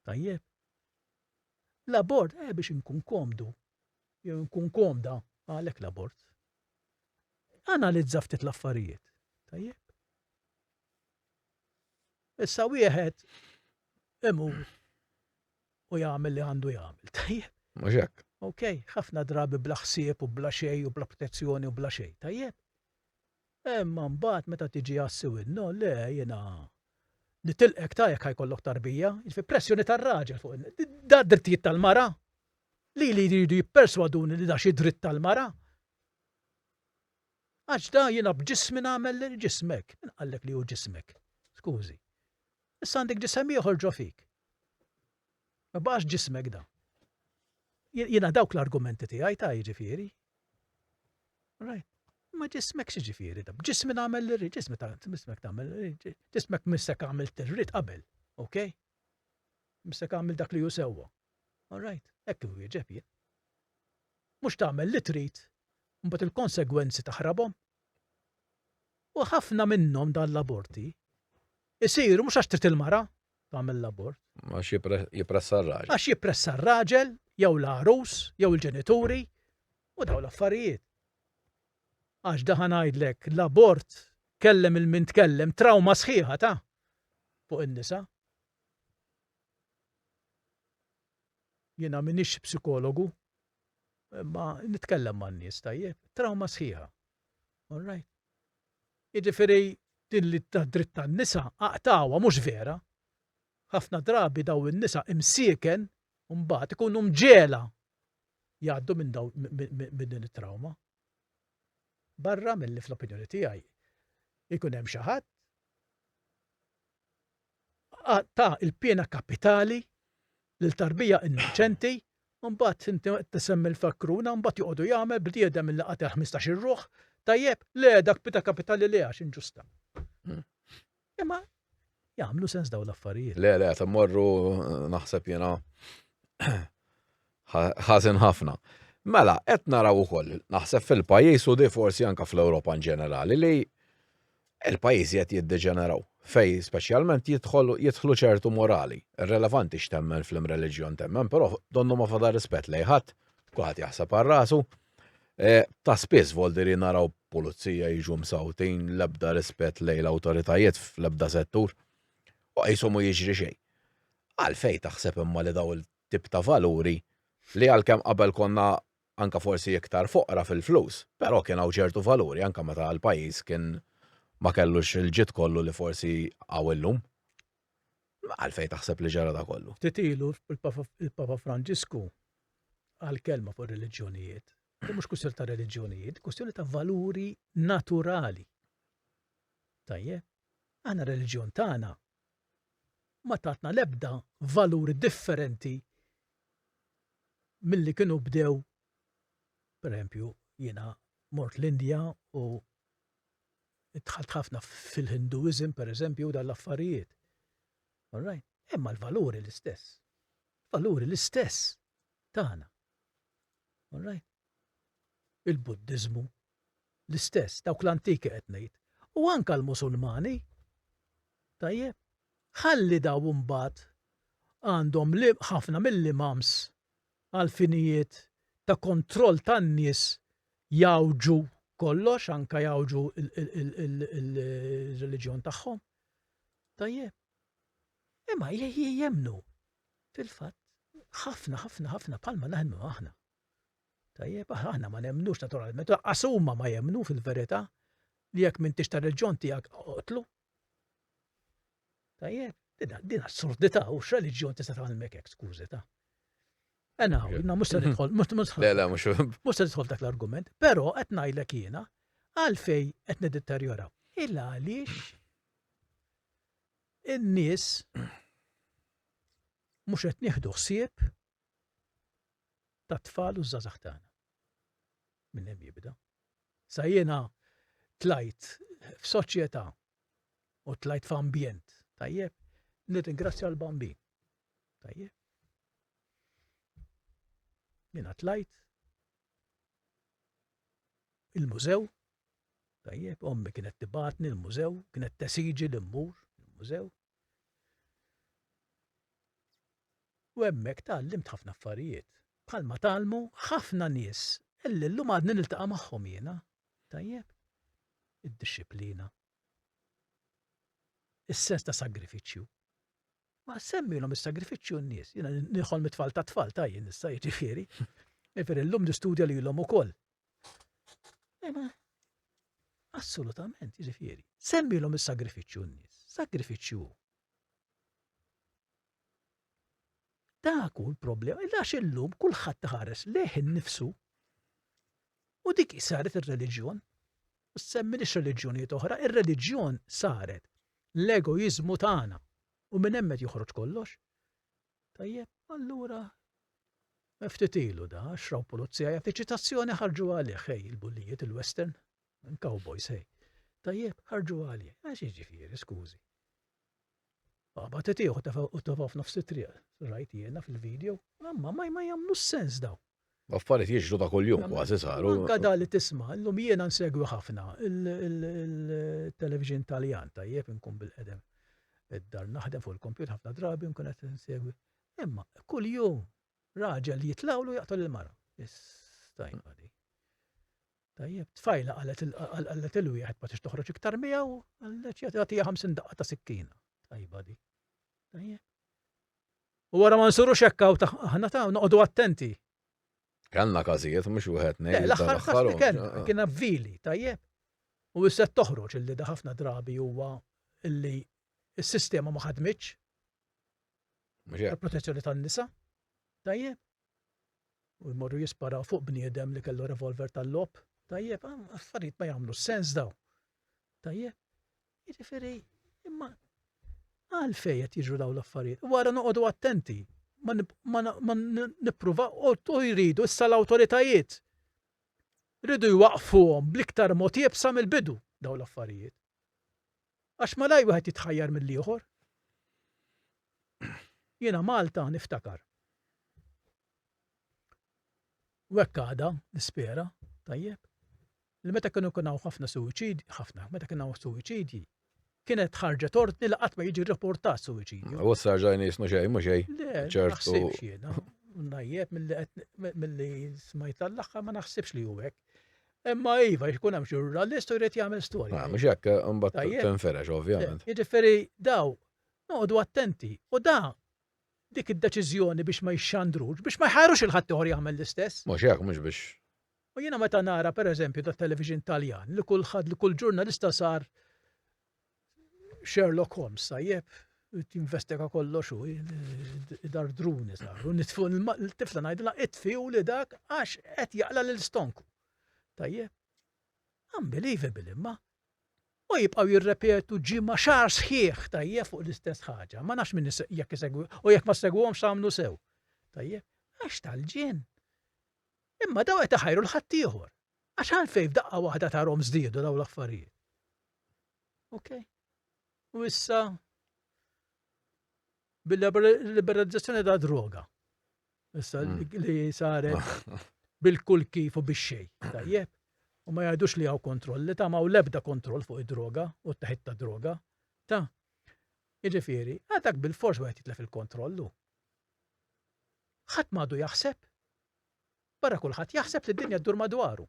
Tajjeb. L-abort, eh, biex inkun komdu, jew nkun komda għalhekk l-abort. Analizza ftit l-affarijiet. Tajjeb. Issa wieħed imur u jagħmel li għandu jagħmel. Tajjeb. Mhux hekk. Ok, ħafna drabi bla ħsieb u bla xej u bla protezzjoni u bla xej. Tajjeb. Imma mbagħad meta tiġi għassi winnu, le jiena li tilqek tajjek ħajkollok tarbija, fi pressjoni tar-raġel fuq da drittijiet tal-mara, Lili jridu jipperswaduni li da xi dritt tal-mara? Għax da jiena b'ġismi nagħmel lil ġismek. Min qallek li hu ġismek? Skużi. Issa għandek ġisem ieħor ġo fik. Ma baqax ġismek da. Jiena dawk l-argumenti tiegħi ta' jiġifieri. Right. Ma ġismek xi ġifieri da. B'ġismi nagħmel lil ġismi ta' ġismek tagħmel ġismek missek għamil tirrid qabel. Okay? Missek għamil dak li hu sewwa. All right, hekk inwieġeb jien. Mhux tagħmel li trid u mbagħad il-konsegwenzi taħrabhom? U ħafna minnhom dan l-aborti isiru mhux għax trid il-mara tagħmel l-abort. Għax jippressa r-raġel. Għax jippressa r-raġel, jew l-għarus, jew il-ġenituri, u daw l-affarijiet. Għax daħan għajdlek l-abort kellem il-min tkellem trawma sħiħa ta' fuq in-nisa. Jiena m'iniex psikologu, imma nitkellem man-nies tajjeb, trawma sħiħa. All right? Jiġifieri din li tad-dritt tan-nisa aqtgħuha mhux vera. Ħafna drabi dawn in-nisa imsieken mbagħad ikunu mġegħla jgħaddu minn dawn minn din it-trawma. Barra milli fl-opinjoni tiegħi jkun hemm xi ħadd ta' il-piena kapitali lil tarbija innoċenti mbagħad inti tisemmi l-fakruna mbagħad joqogħdu jagħmel bniedem li qatel 15-il ruħ tajjeb le dak piena kapitali le għax inġusta. Imma jagħmlu sens daw l-affarijiet. Le, le, ta' morru naħseb jena ħażin ħafna. Mela, qed naraw ukoll, naħseb fil-pajjiż u di forsi anka fl-Ewropa in ġenerali li il-pajjiżi qed jiddeġeneraw fej speċjalment jidħlu ċertu morali. Relevanti x'temmen fl-imreliġjon temmen, però donnu ma fadar rispett lejħat, kulħadd jaħseb għal rasu, Eh, ta' spiss voldiri naraw pulizija jiġu msawtin l-ebda rispett lejn l-awtoritajiet fl-ebda settur u qishom u jiġri xejn. Għalfej taħseb imma li daw il-tip ta' valuri li għalkemm qabel konna anka forsi iktar foqra fil-flus, però kien hawn ċertu valuri anka meta l-pajjiż kien ma kellux il-ġid kollu li forsi hawn illum. Għalfejn taħseb li ġara da kollu? Ftit ilu il-Papa Franġisku qal kelma fuq ir-reliġjonijiet. Din mhux kwistjoni ta' reliġjonijiet, kwistjoni ta' valuri naturali. Tajjeb, aħna reliġjon tagħna ma tatna l-ebda valuri differenti milli kienu bdew, per jiena mort l-Indja u Dħalt ħafna fil-Hinduism, per eżempju, u dan l-affarijiet. All right? Imma l-valuri l-istess. Valuri l-istess tagħna. All right? Il-Buddiżmu l-istess, dawk l-antiki qed ngħid. U anka l-Musulmani. Tajjeb. Ħalli daw imbagħad għandhom li ħafna mill-imams għall-finijiet ta' kontroll tan-nies jgħawġu kollox, anke jgħawġu l-reliġjon tagħhom. Tajjeb. Imma jemmnu fil-fatt ħafna ħafna ħafna palma naħnu aħna. Tajjeb, aħna ma nemmnux naturalment, qasuma ma jemmnu fil-verità li jekk minn tixtar il-ġon tiegħek oqtlu, Tajjeb, din assurdità u x'reliġjon tista' tgħallmek hekk skużi ta'. Ena, jina mhux se nidħol, mhux se nidħol dak l-argument, però qed ngħidlek jiena għalfej qed niddeterjora. Il għaliex in-nies mhux qed nieħdu ħsieb tat-tfal u ż-żgħażagħ tagħna. Minn hemm jibda. Sa jiena tlajt f'soċjetà u tlajt f'ambjent, tajjeb, nirringrazzja l-bambin. Tajjeb. Jiena tlajt il-mużew, tajjeb, ommi kienet tibatni l-mużew, kienet tesiġi l-immur, il-mużew, U hemmhekk tgħallimt ħafna affarijiet. Bħalma tgħallmu ħafna nies illi llum għadni niltaqa' magħhom jiena. Tajjeb? Id-dixxiplina. Is-sens ta' sagrifiċċju. Ma semmilhom is-sagrifiċċju n-nies. Jiena nidħol mit-tfal ta' tfal ta' jien issa jiġifieri. Jiġifieri llum nistudja lilhom ukoll. Ema, assolutament, jiġifieri. Semmilhom is-sagrifiċċju n-nies. Sagrifiċċju hu. Dak hu l-problema, għax illum kulħadd taħares leħ innifsu u dik saret ir-reliġjon. U semmi li reliġjonijiet oħra, ir-reliġjon saret l-egoizmu tagħna u minn hemmet joħroġ kollox. Tajjeb, allura ftit ilu da, xraw pulizija jagħti eċitazzjoni ħarġu għalih hej il-bullijiet il-western, cowboys hej. Tajjeb, ħarġu għalih, għax jiġifieri, skużi. Baba titiħu u tafaw f'nofs it-triq, rajt jiena fil-video, mamma ma jagħmlu sens daw. Affarijiet jiġru ta' kuljum kważi saru. Anka da li tisma, llum jiena nsegwi ħafna il-television Taljan tajjeb inkun bil-qedem id-dar naħdem fuq il-kompjut ħafna drabi nkun qed insegwi. Imma kuljum raġel jitlawlu jaqtol il-mara. Istajba di. Tajjeb, tfajla qalet il-wieħed ma tix toħroġ iktar miegħu, għalleċ jagħtiha 50 daqqa ta' sikkina. Tajba di. Tajjeb. U wara ma nsirux hekk hawn ta' aħna ta' noqogħdu attenti. Kellna każijiet mhux wieħed ngħid. Eh, l-aħħar każ li kellna eh. kien vili, tajjeb. U issa toħroġ illi da ħafna drabi huwa illi s-sistema ma ħadmitx. Il-protezzjoni tan-nisa. Tajjeb. U jmorru jisparaw fuq bniedem li kellu revolver tal-lob. Tajjeb, ah, affarijiet ma jagħmlu sens daw. Tajjeb. Jiġifieri, imma għalfejn qed jiġru dawn l-affarijiet? Wara noqogħdu attenti, ma nippruva u jridu issa l-awtoritajiet. Ridu jwaqfuhom bl-iktar mod jibsa mill-bidu dawn l-affarijiet. Għax ma laj wieħed jitħajjar mill-ieħor. Jiena Malta niftakar. Wekkada, nispera, tajjeb. li meta kienu jkun hawn ħafna suwiċidji, ħafna, meta kien hawn suwiċidji, kienet ħarġet ordni li qatt ma jiġi rrapportat suwiċidju. U issa rġajna jisnu xejn, mhux xejn. Le, ċertu. Najjeb mill-li smajt l-axħar ma naħsibx li juwek. Imma iva, jkun hemm ġurnalist u jrid jagħmel storja. Ma ah, mhux hekk imbagħad tinferex ovvjament. Eh, jiġifieri daw noqogħdu attenti u da dik id-deċiżjoni biex ma jxandrux, biex ma jħarux il-ħadd ieħor jagħmel l-istess. Mhux hekk mhux biex U jiena meta nara per eżempju tat-television Taljan li kull ħadd li kull ġurnalista sar Sherlock Holmes tajjeb, jinvestiga kollox u dar druni saru, nitfu l-tifla ngħidilha itfiju li dak għax qed jaqla lil stonku. Tajjeb. Unbelievable imma. U jibqaw jirrepetu ġimma xar sħiħ tajjeb fuq l-istess ħaġa. Ma nafx minn jekk isegwi u jekk ma segwhomx għamlu sew. Tajjeb, għax tal-ġien. Imma dawn qed iħajru 'l ħaddieħor. Għax għalfejn f'daqqa waħda tarhom żdiedu dawn l-affarijiet? Okej? U issa bil-liberalizzazzjoni ta' droga. Issa hmm. li saret bil-kull kif u biex xej. Tajjeb. U ma jgħidux li għaw kontroll, li ta' ma' lebda kontroll fuq id-droga u t-taħit ta' droga. Ta' Iġifiri, għadak bil-fors għajt jitlef il-kontrollu. ħat madu jaħseb Barra kulħadd jaħseb li d-dinja ddur madwaru.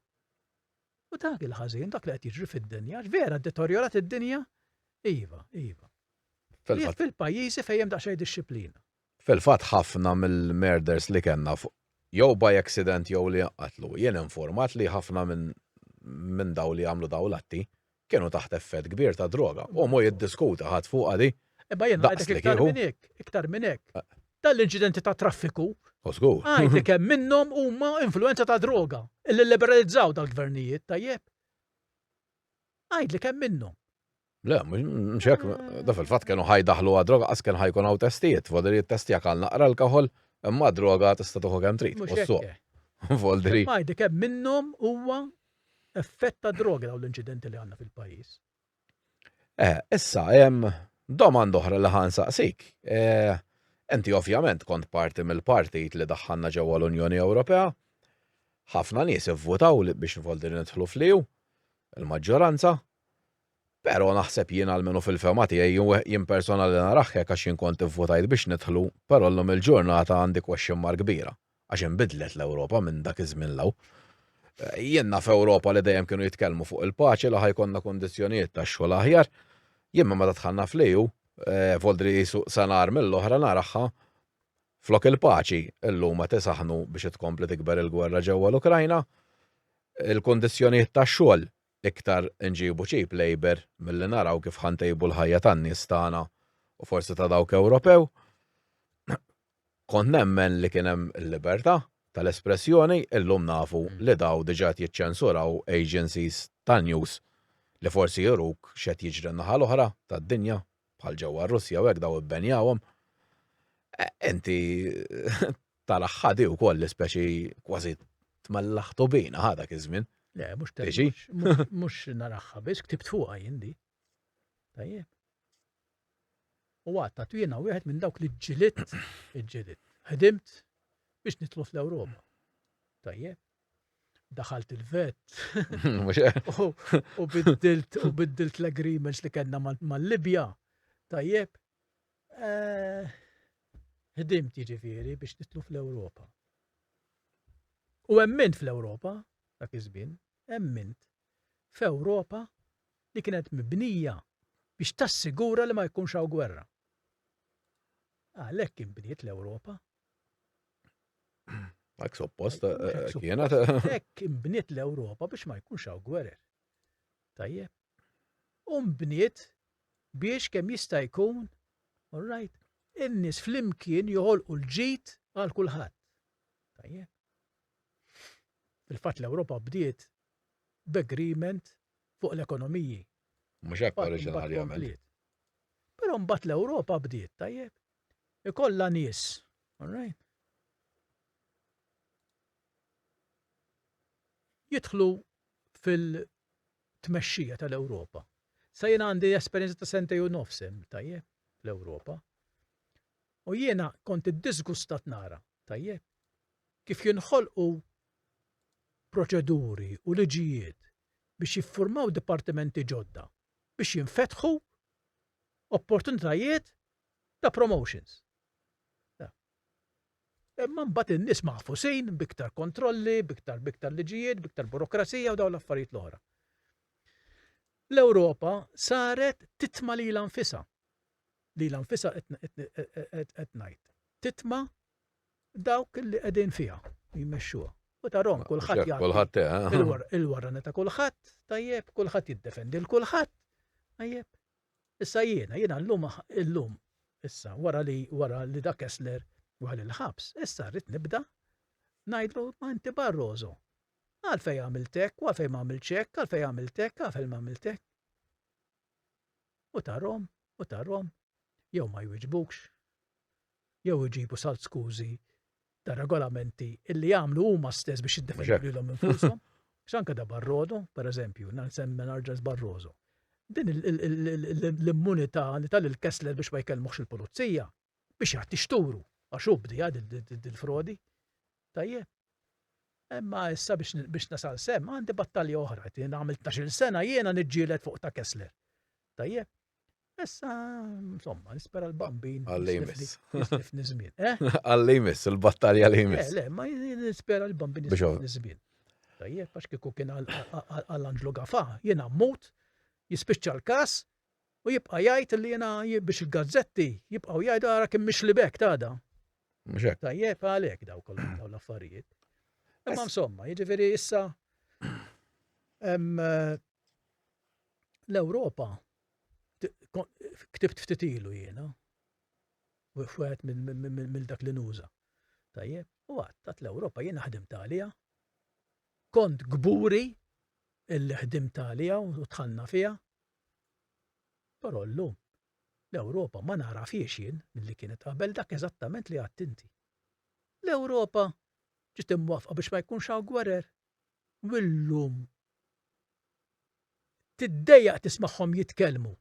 U dak il-ħażin, dak li qed jiġri fid-dinja, għax vera ddetorjorat id-dinja? Iva, iva. Fil-fatt. Jekk fil-pajjiżi fejn hemm daqsxejn dixxiplina. Fil-fatt ħafna mill-murders li kellna fuq jew by accident jew li jinqatlu, jien informat li ħafna minn dawn li jagħmlu dawn l-atti Kienu taħt effett kbir ta' droga. Hu mhu jiddiskuta ħadd fuqha di. Imma jien ngħidlek iktar minn hekk, iktar minn hekk. Dan l-inċidenti ta' traffiku. O żgur. Ngħidlek kemm minnhom huma influwenza ta' droga illi lliberalizzaw dal-gvernijiet, tajjeb? Ngħidlek kemm minnhom. Le, mhux hekk, da fil-fatt kienu ħa jdaħħlu għad-droga qas kien ħa jkun hawn testijiet, fodri jittestjak għal naqra l-kaħol, imma droga tista' tieħu kemm trid. Mhux hekk. Voldri. Ngħidlek kemm minnhom huwa effett ta' droga dawn l-inċidenti li għandna fil-pajjiż. Eh, issa hemm domanda oħra li ħan saqsik. Eh, enti ovvjament kont parti mill-partit li daħħanna ġewwa l-Unjoni Ewropea. Ħafna nies ivvutaw biex nfoldi nidħlu fliw, il-maġġoranza. Pero naħseb jien għalmenu fil-fema tiegħi jien personali naraħħek għax jien kont ivvotajt biex nidħlu, però llum il-ġurnata għandi question mark kbira. għax inbidlet l-Ewropa minn dak iż-żmien 'l hawn. Jien naf Ewropa li dejjem kienu jitkellmu fuq il-paċi, li ħa jkollna kundizzjonijiet tax-xogħol aħjar. Jien minn meta dħalna fl-EU, Voldri qisu sa nhar mill-oħra naraha flok il-paċi, illum qed isaħħnu biex itkompli tikber il-gwerra ġewwa l-Ukrajna. Il-kundizzjonijiet tax-xogħol, iktar inġibu cheap labour milli naraw kif ħa ntejbu l-ħajja tan-nies tagħna u forsi ta' dawk Ewropew. Kont nemmen li kien hemm il-libertà tal-espressjoni, illum nafu li daw diġa qed jiċċensuraw agencies tan-news li forsi juruk x'qed jiġri n-naħa l-oħra tad-dinja, bħal ġewwa r-Russja u hekk daw ibbenjawhom. Inti taraħ ħa di wkoll li speċi kważi tmellaħ tubina ħa dak iż-żmien. Le, mhux temmix. Mhux naraħħa biss, ktibt fuqha jien di. Tajjeb. U għad ta' twina wieħed minn dawk li ġġilitt, ġġilitt, ħdimt biex nitlu fl-Ewropa. Tajjeb. Daħalt il-vet. U biddilt, u biddilt l-agreements li kellna mal-Libja. Tajjeb. Eh, ħdimt jiġifieri biex nitlu fl-Ewropa. U emmint fl-Ewropa, dak iż-żmien, emmint f'Ewropa li kienet mibnija biex tassigura li ma jkunx hawn gwerra. Għalhekk inbniet l-Ewropa. Hekk suppost kienet. Hekk inbniet l-Ewropa biex ma jkunx hawn gwerer. Tajjeb. U nbniet biex kemm jista' jkun, all right, in-nies flimkien joħolqu l-ġid għal kulħadd. Tajjeb. Fil-fatt l-Ewropa bdiet b'agreement fuq l-ekonomiji. Mhux hekk oriġinarjament. Però mbagħad l-Ewropa bdiet, tajjeb? Ikollha nies, all right? Jidħlu fil-tmexxija tal-Ewropa. Sa jiena għandi esperjenza ta' sentej u nofs hemm, tajjeb, fl-Ewropa. U jiena kont iddisgustat nara, tajjeb, kif jinħolqu proċeduri u liġijiet biex jiffurmaw dipartimenti ġodda biex jinfetħu opportunitajiet ta' promotions. Imma mbagħad in-nies maħfusin b'iktar kontrolli, b'iktar b'iktar liġijiet, b'iktar burokrazija u dawn l-affarijiet l-oħra. L-Ewropa saret titma lilha nfisha. Lilha nfisha qed ngħid. Titma dawk li qegħdin fiha u jmexxuha. U tarahom kulħadd jagħti il-warrana ta' kulħadd, tajjeb, kulħadd jiddefendi lil kulħadd, tajjeb. Issa jiena, jiena llum illum issa wara li wara li dak Kessler wara l-ħabs, issa rrid nibda ngħidlu ma inti Barroso. Għalfej għamiltek, għalfej ma għamiltek, għalfej għamiltek, għalfej ma għamiltek. u tarhom u tarhom jew ma jwiġbukx jew iġibu salt skużi ta' regolamenti illi jagħmlu huma stess biex jiddefendu lilhom infushom. X'anke da Barrodo, per eżempju, nsemmi narġa' Barroso. Din l-immunità li tal il-Kessler biex ma jkellmuhx il-pulizija, biex jgħid tixturu għax hu bdiha dil-frodi. Tajjeb. Imma issa biex nasal sem għandi battalja oħra, jien għamil 12 sena jiena niġġielet fuq ta' Kessler. Tajjeb. Issa, insomma, nispera l-bambin. Għallimis. Nizmin. Eh? Għallimis, il-battalja għallimis. Eh, le, ma nispera l-bambin nizmin. Tajjeb, għax kiku kien għall-anġlu gafa, jena mmut, jispiċċa l-kas, U jibqa' jgħid li jiena biex il-gazzetti jibqgħu jgħidu ara kemm mixli bek tada. Mhux hekk. Tajjeb għalhekk daw kollha daw l-affarijiet. Imma insomma, jiġifieri issa eh, l-Ewropa ktibt ftit ilu jiena. Wieħed mill dak li nuża. Tajjeb, u għadd l-Ewropa jiena ħdimt għaliha Kont kburi illi ħdimt għaliha u dħalna fiha. Però llum, l-Ewropa ma nagħrafhiex jien milli kienet qabel dak eżattament li għedt inti. L-Ewropa ġiet imwaffqa biex ma jkunx hawn gwerer. U llum tiddejjaq tismagħhom jitkellmu.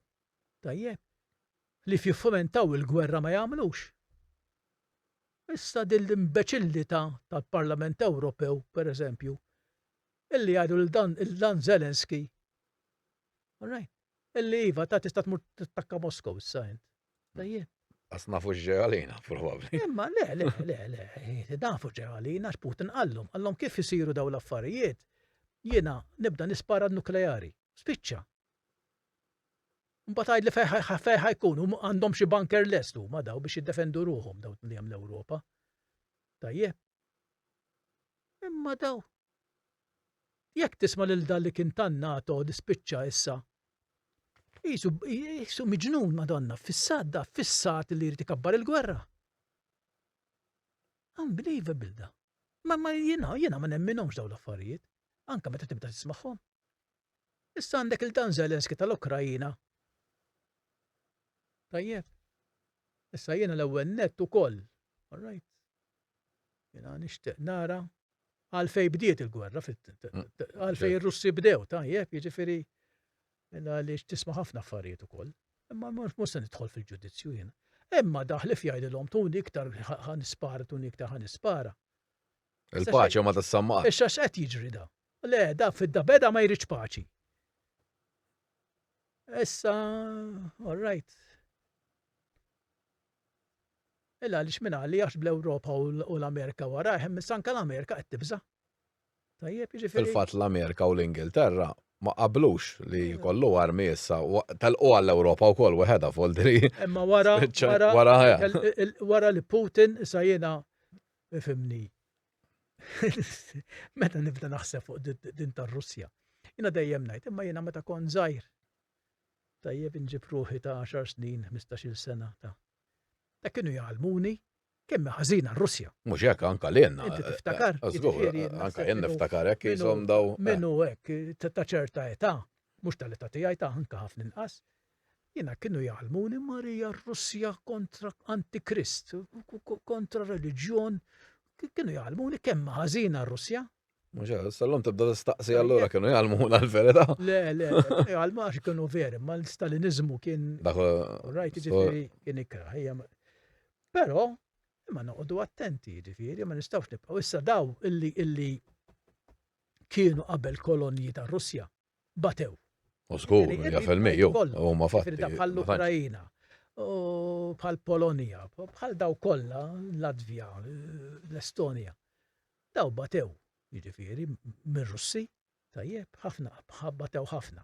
Tajjeb, li fjiffumentaw il-gwerra ma jagħmlux. Issa din l-imbeċillità tal-Parlament Ewropew, per eżempju, illi jgħidu lil dan il-dan Zelensky, all right, illi iva ta' tista' tmur tattakka Moskow issa int. Tajjeb. Għas nafu ġew għalina, probabli. Imma, le, le, le, le, nafu ġew għalina, x'Putin għallum, għallum kif isiru daw l-affarijiet, jiena nibda nispara nukleari, spiċċa. Mbagħad għidli fejn ħa fejn ħa jkun, hum għandhom xi banker lest huma daw biex jiddefendu ruħhom daw li hemm l-Ewropa. Tajjeb. Imma daw. Jekk tisma' lil dan li kien tan-NATO li spiċċa issa Jisu, jisu miġnun madonna, fissat da, fissat li jrid ikabbar il-gwerra. Unbelievable da. Ma ma jina, jina ma nemminomx daw l-affarijiet. Anka meta tibda tismaħħom. Issa għandek lil dan Zelensky tal-Ukraina. Tajjeb. Issa jiena l-ewwel nett ukoll. All right. Jiena nixtieq nara għalfej bdiet il-gwerra, mm. għalfej ir-Russi bdew, tajjeb, jiġifieri għaliex tisma' ħafna affarijiet ukoll. Imma mhux se nidħol fil-ġudizzju jiena. Imma daħlif jgħidilhom tuni iktar ħan ispara, tuni iktar ħan ispara. Il-paċi ma tissamma. Issa x'qed jiġri da? Le, da fidda beda ma jridx paċi. Issa, all right. Illa għaliex minn għalli għax bl-Ewropa u l-Amerika wara, hemm sanka l-Amerika qed tibża. Tajjeb, jiġifieri. Fil-fatt l-Amerika u l-Ingilterra ma qablux li mm. kollu armi issa tal-qu għall-Ewropa wkoll weħeda foldri. Imma wara wara li Putin issa jiena fimni. Meta nibda naħseb fuq din tar-Russja. Jiena dejjem ngħid, imma jiena meta kont żgħir. Tajjeb inġib ruħi ta' 10 snin, 15-il sena ta' ta' kienu jgħalmuni kemm ħażina r-Russja. Mhux hekk anke lilna. Inti tiftakar. Eh, jiġifieri anke jien niftakar hekk jisom daw. Eh. Minnu hekk ta' ċerta età, mhux tal-età tiegħi ta' anke ħafna inqas. Jiena kienu jgħallmuni Marija r-Russja kontra antikrist, kontra reliġjon, kienu jgħallmuni kemm ħażina r-Russja. Mhux hekk, sal-lum tibda tistaqsi allura kienu jgħallmuna l-verità. Le, le, jgħallmu għax kienu veri, ma l-Stalinizmu kien. Dak rajt ġifieri kien ikrah. Però imma noqogħdu attenti ġifieri, ma nistgħux nibqgħu issa daw illi illi kienu qabel kolonji tar-Russja. batew. U żgur, jafel mejju, u ma fatti. Firda bħall-Ukrajina, bħall-Polonija, bħal daw kollha, Latvija, l-Estonija. Daw batew, jiġifieri, mir-Russi, tajjeb, ħafna, batew ħafna.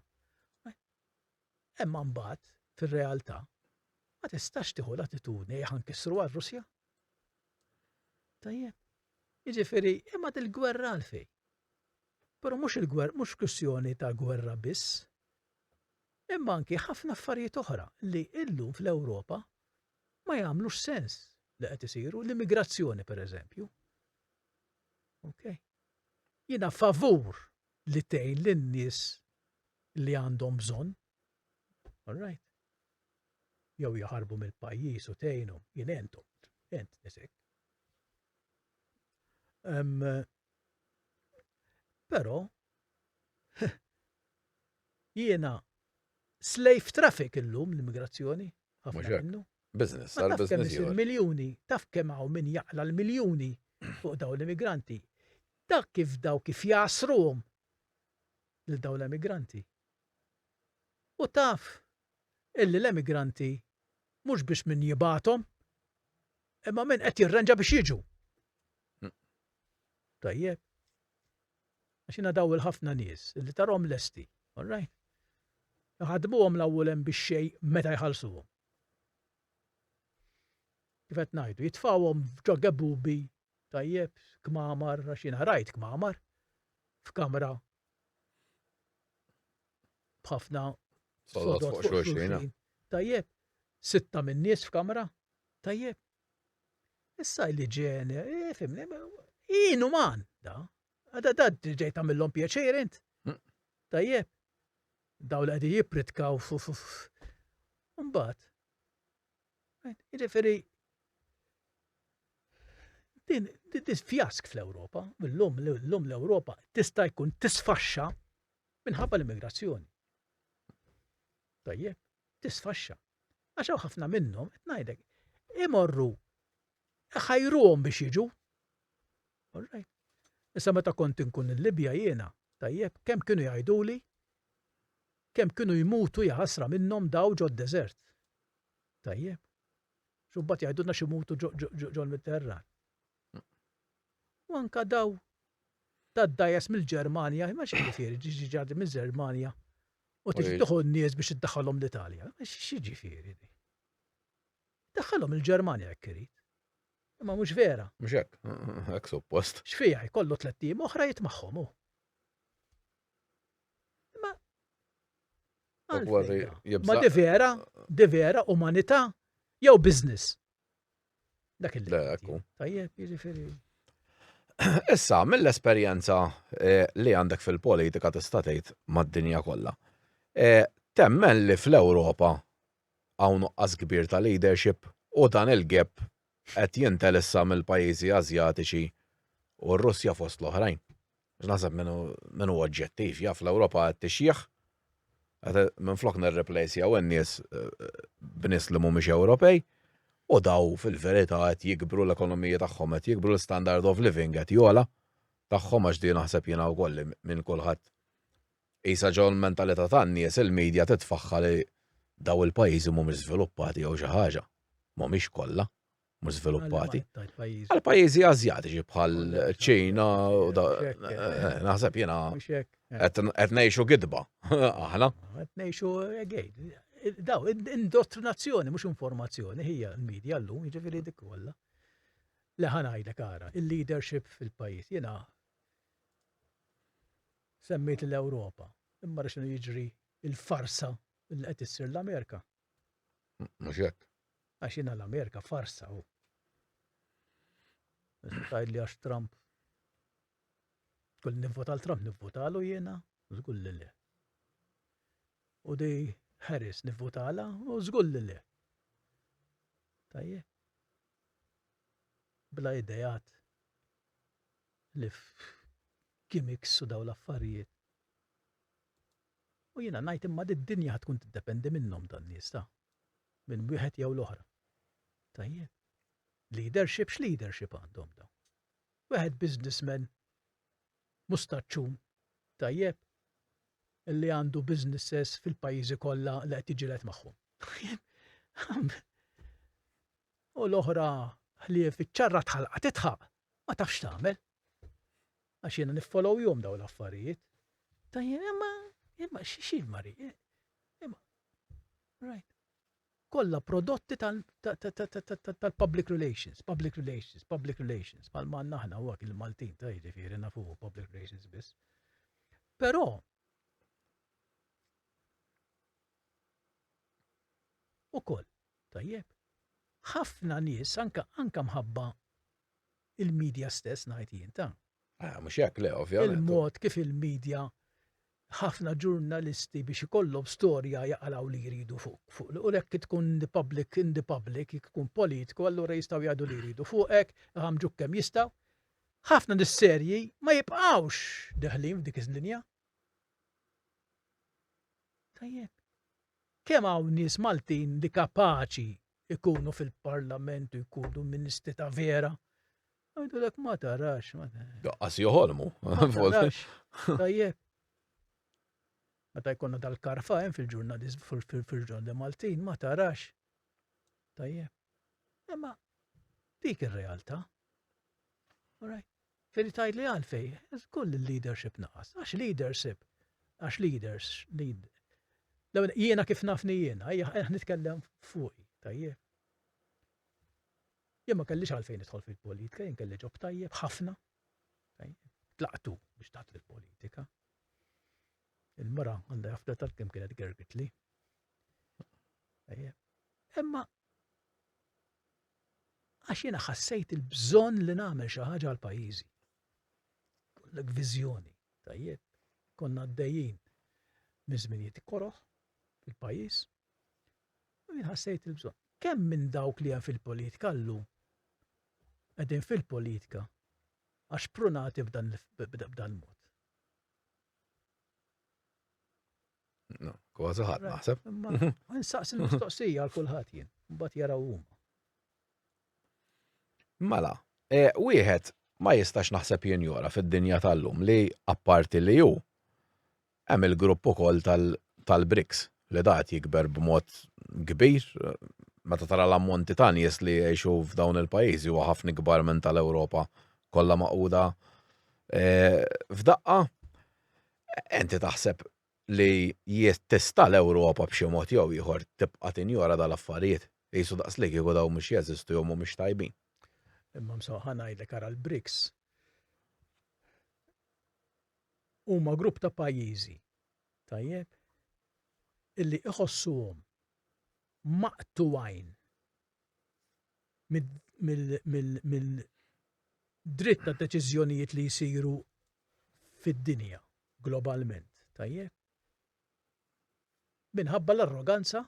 imma mbagħad, fir-realtà, ma tistax tieħu l-attitudni li ħankissru għar-Russja. Tajjeb. Jiġifieri, imma dil-gwerra għalfejn? Però mhux il-gwerra, mhux kwistjoni ta' gwerra biss, imma anki ħafna affarijiet oħra li illum fl-Ewropa ma jagħmlux sens li qed isiru l-immigrazzjoni pereżempju. Ok. Jiena favur li tgħin lin-nies li għandhom bżonn, all right? Jew jaħarbu mill-pajjiż u tgħinhom, jien entom, ent nisek. Um, Però jiena slave traffic illum l-immigrazzjoni. Business, għal business. Miljoni, taf kemm hawn min jaqla l-miljoni fuq dawn l-immigranti Dak kif daw kif jgħassruhom lil dawn l-emigranti. U taf illi l-emigranti mhux biss min jibgħathom imma min qed jirranġa biex jiġu. Tajjeb. Għax jiena daw il-ħafna nies illi tarhom lesti, all right? Ħadmuhom l-awwel hemm biex xej meta jħallsuhom. Kif qed ngħidu, jitfawhom ġo gebubi Tajjeb, kmamar, għax jiena rajt kmamar f'kamra b'ħafna sodod fuq xulxin. Tajjeb, sitta minn nies f'kamra. Tajjeb. Issa li ġene, eh, fimni, jien man, da. Għada da ġej tamillom pjaċir int. Mm. Tajjeb. Daw li għadi jipritkaw fuf. Mbaħt, Jiġifieri din fjask fl-Ewropa, l-lum l-lum l-Ewropa tista' jkun tisfaxxa minħabba l-immigrazzjoni. Tajjeb, tisfaxxa. Għax hawn ħafna minnhom qed ngħidlek imorru ħajruhom biex jiġu. Alright. Issa meta kont inkun il-Libja jiena, tajjeb, kemm kienu jgħiduli Kemm kienu jmutu jaħasra minnhom daw ġod-deżert. Tajjeb. X'u mbagħad jgħidulna x'imutu ġol-Mediterran. U anka daw tad-dajes mill-Ġermanja, ma xi ġifieri ġiġi ġardi mill-Ġermanja u tiġi tieħu n-nies biex iddaħħalhom l-Italja. Xi ġifieri di? Daħħalhom il-Ġermanja jekk irid. Imma mhux vera. Mhux hekk, hekk suppost. X'fiha jkollu tliet tim oħra jitmagħhom hu. Ma. Ma di vera, di vera, umanità, jew business. Dak il Tajjeb, jiġifieri. Issa, mill-esperjenza eh, li għandek fil-politika tista' tgħid mad-dinja kollha. Eh, temmen li fl-Ewropa hawn nuqqas kbir ta' leadership u dan il-gap qed jintelessa mill-pajjiżi Ażjatiċi u r-Russja fost l-oħrajn. Għax naħseb min hu min hu oġġettiv jaf l-Ewropa qed tixjieħ. Qed minflok nirreplejsjaw in-nies b'nies li mhumiex Ewropej u daw fil-verità qed jikbru l-ekonomiji tagħhom qed jikbru l-standard of living qed jogħla tagħhom għax din naħseb jiena wkoll li minn kulħadd Qisha ġo l-mentalità tan-nies il-media titfaħħa li dawn il-pajjiżi mhumiex żviluppati jew xi ħaġa. Mhumiex kollha mhux żviluppati. Għall-pajjiżi Ażjatiċi bħal ċina u da naħseb jiena qed ngħixu gidba aħna. Qed ngħixu again. Daw, indottrinazzjoni, mhux informazzjoni, hija l-medja llum, jiġifieri dik kollha. Leħan għajdek ara, il-leadership fil-pajjiż jiena Semmejt l-Ewropa, imma ara x'inhu jiġri l-farsa li qed issir l-Amerika. Mhux hekk. Għax jiena l-Amerika farsa hu. Tgħidli għax Trump. Kull nivvota għal Trump nivvotalu jiena, żgur li le. U di Harris nivvotala u żgur li le. Tajje. Bla idejat li gimmicks u dawn l-affarijiet. U jiena ngħid imma din id-dinja ħa tkun tiddependi minnhom dan nies ta'. Minn wieħed jew l-oħra. Tajjeb. Leadership x'leadership għandhom dawn? Wieħed businessman mustaċċun tajjeb li għandu businesses fil-pajjiżi kollha li qed jiġilet magħhom. U l-oħra ħlief iċ-ċarra tħalqa titħaq, ma tafx tagħmel. Għax jiena niffollow jom daw l-affarijiet. Tajjeb, imma, imma, xi mari, imma, right. Kolla prodotti tal-public relations, public relations, public relations, pal man naħna u il-Maltin ta' jiġifieri nafu public relations biss. Però, u koll, tajjeb, ħafna nies anka anka mħabba il-media stess ngħid jien ta'. Ah, mhux hekk le ovvjament. Il-mod kif il-media ħafna ġurnalisti biex ikollhom storja jaqalaw li jridu fuq fuq u hekk tkun the public in the public jekk tkun politiku allura jistgħu jgħidu li jridu fuqek iħammġuk kemm jistgħu. Ħafna nis-serji ma jibqgħux deħlin f'dik iż-linja. Tajjeb. Kemm hawn nies Maltin li kapaċi ikunu fil-parlament u jkunu ministri ta' vera. Għajdulek ma tarax. Għas joħolmu. Tajjeb. Meta jkonna dal-karfa hemm fil-ġurnalist fil-ġurnal Maltin ma tarax. Tajjeb. Imma dik ir-realtà. Alright. Trid tgħidli għalfejn? Żgur li l-leadership naqas. Għax leadership, għax leaders, lead. L-ewwel jiena kif nafni jiena, ejja qed nitkellem fuqi, tajjeb. Jien ma kellix għalfejn nidħol fil-politika, jien kelli ġob tajjeb ħafna. Tlaqtu biex taħt il-politika. Il-mara għandha jafda tal-kim kienet gergitli. Imma Għax jiena ħassejt il-bżonn li nagħmel xi ħaġa għal pajjiżi. Kollek viżjoni, tajjeb, konna għaddejjin minn żminijiet koroħ fil-pajjiż. U jien ħassejt il-bżonn. Kemm minn dawk li hemm fil-politika llum qegħdin fil-politika għax prunati b'dan mod. Kważi ħadd naħseb. Nsaqs il-mistoqsija għal kulħadd jien, mbagħad jaraw huma. Mela, e, wieħed ma jistax naħseb jien jora fid-dinja tal-lum li apparti li ju hemm il-grupp ukoll tal-BRICS li dat jikber b'mod kbir meta tara l-ammonti ta' nies li jgħixu f'dawn il-pajjiżi huwa ħafna kbar minn tal-Ewropa kollha maquda e, f'daqqa. Inti taħseb li jekk tista' l-Ewropa b'xi mod jew ieħor tibqa' tinjora dan l-affarijiet? Qisu daqs li kieku dawn mhux jeżistu jew mhumiex tajbin. Imma msaw ħa ngħidlek ara l-BRICS huma grupp ta' pajjiżi tajjeb illi iħossuhom maqtugħin mill-dritt ta' deċiżjonijiet li jsiru fid-dinja globalment, tajjeb? Minħabba l-arroganza